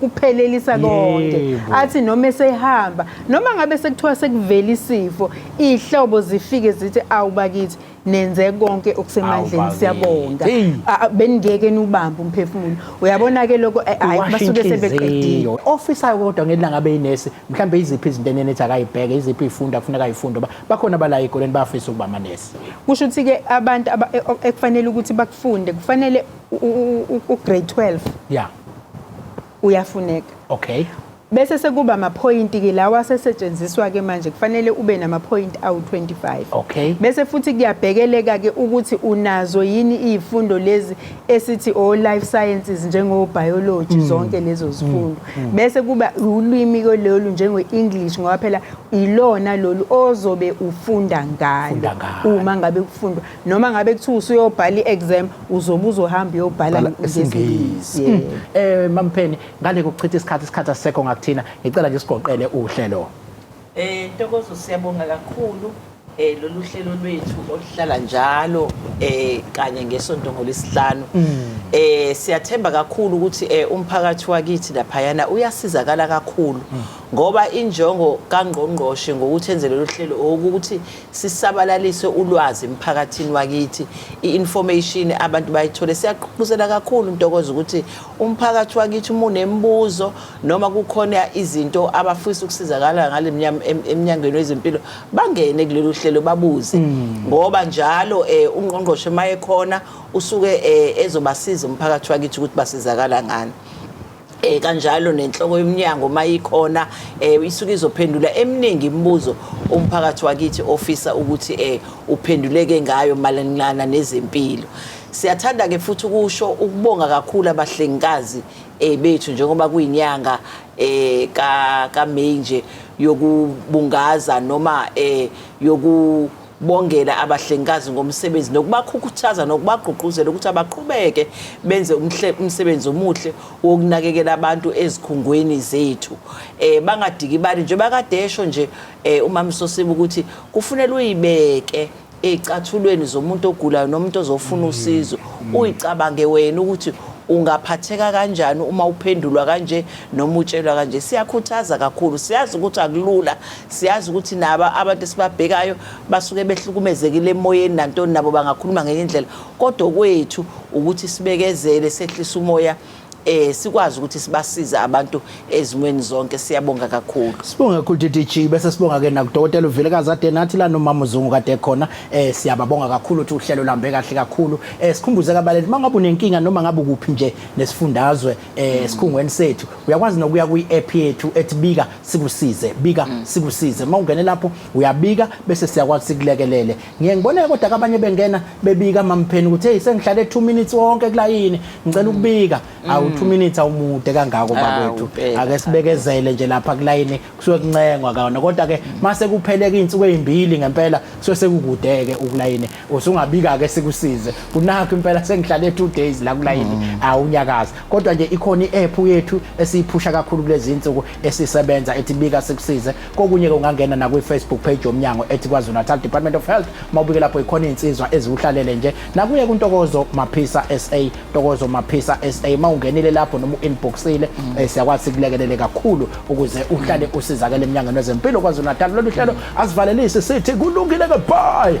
kuphelelisa konke athi noma esehamba noma ngabe sekuthiwa sekuvela isifo ihlobo zifike zithi awubakithi nenze konke okusemandleni siyabonga beningeke nubambe umphefumulo uyabona ke lokho eh, hayi basuke sebeqedile officer kodwa ngelinga ngabe inesi mhlambe iziphi izinto enene ethi akayibheke iziphi ifunda kufuneka ifunde bakhona bala ekoleni bafisa ukuba manesi Kusho ukuthi ke abantu e, ekufanele ukuthi bakufunde kufanele u grade 12. Yeah. Uyafuneka. Okay. Bese sekuba ama point ke lawa asesetshenziswa ke manje kufanele ube nama point awu 25. Okay. Bese futhi kuyabhekeleka ke ukuthi unazo yini izifundo lezi esithi o oh, life sciences njengo biology mm. zonke lezo mm. zifundo mm. bese kuba ulwimi kololu njengo English ngoba phela ilona lolu ozobe ufunda ngalo uma ngabe kufundwa noma ngabe kuthiwa usuyobhala i-exam uzobe uzohamba uyobhala ngesingisi mm. eh mampheni ngale kokuchitha isikhathi isikhathi asekho ngakuthina ngicela nje sigoqele uhlelo Eh Ntokozo siyabonga kakhulu eh lolu hlelo lwethu oluhlala njalo eh kanye ngesonto ngolisihlanu mm. eh siyathemba kakhulu ukuthi eh umphakathi wakithi laphayana uyasizakala kakhulu mm. ngoba injongo kangqongqoshe ngokuthi enze lolu hlelo ukuthi sisabalalise ulwazi emphakathini wakithi i-information abantu bayithole siyaqhubuzela kakhulu intokozo ukuthi umphakathi wakithi umunemibuzo noma kukhona izinto abafisa ukusizakala ngale emnyangweni wezempilo bangene kulolu hlelo babuze mm. ngoba njalo um ungqongqoshe uma ekhona usuke um ezobasiza umphakathi wakithi ukuthi basizakala ngani eh kanjalo nenhloko yomnyango mayikhona eh isuke izophendula eminingi imibuzo umphakathi wakithi ofisa ukuthi eh uphenduleke ngayo malanana nezempilo siyathanda ke futhi ukusho ukubonga kakhulu abahlengikazi eh bethu njengoba kuyinyanga eh ka ka May nje yokubungaza noma eh yoku bongela abahlengikazi ngomsebenzi nokubakhukhuthaza nokubagqugquzela ukuthi abaqhubeke benze umsebenzi omuhle wokunakekela abantu ezikhungweni zethu eh bangadikibali nje bakadesho nje eh uma msosiba ukuthi kufunela uyibeke eyicathulweni zomuntu ogulayo nomuntu ozofuna usizo uyicabange wena ukuthi ungaphatheka kanjani uma uphendulwa kanje noma utshelwa kanje siyakhuthaza kakhulu siyazi ukuthi akulula siyazi ukuthi nabo abantu esibabhekayo basuke behlukumezekile emoyeni nantoni nabo bangakhuluma ngenye indlela kodwa kwethu ukuthi sibekezele sehlisa umoya eh sikwazi ukuthi sibasize abantu ezimweni zonke siyabonga kakhulu sibonga kakhulu DDG bese sibonga ke nakudokotela uVilekazi ade nathi la nomama uzungu kade khona eh siyababonga kakhulu ukuthi uhlelo lambe kahle kakhulu eh sikhumbuze kabaleli mangabe unenkinga noma ngabe kuphi nje nesifundazwe eh sikhungweni sethu uyakwazi nokuya kwi app yethu ethi bika sikusize bika mm. sikusize mawungene lapho uyabika bese siyakwazi sikulekelele Ngiye ngibone kodwa ke abanye bengena bebika mampheni ukuthi hey sengihlale 2 minutes wonke kulayini ngicela mm. ukubika mm. awu 2 minutes awumude kangako bakwethu ake sibekezele nje lapha kulayini kusuke kuncengwa kaona kodwa ke mm. mase kupheleka izinsuku ezimbili ngempela kusuke sekukudeke ukulayini usungabika ke sikusize kunakho impela sengihlale 2 days la kulayini awunyakaza kodwa nje ikhona iapp yethu esiyiphusha kakhulu kulezi insuku esisebenza ethi bika sikusize kokunye-ke ungangena nakwi-facebook page yomnyango ethi kwazulu-natal department of health uma ubike lapho ikhona iy'nsizwa eziwuhlalele nje nakuye kuntokozo maphisa sa ntokozo maphisa sa uma ungenile lapho noma u-inboxile um mm. eh, siyakwazi sikulekelele kakhulu ukuze uhlale usizakele emnyangweni wezempilo kwazulu-natal lolu hlelo asivalelisi sithi kulungile-ke bye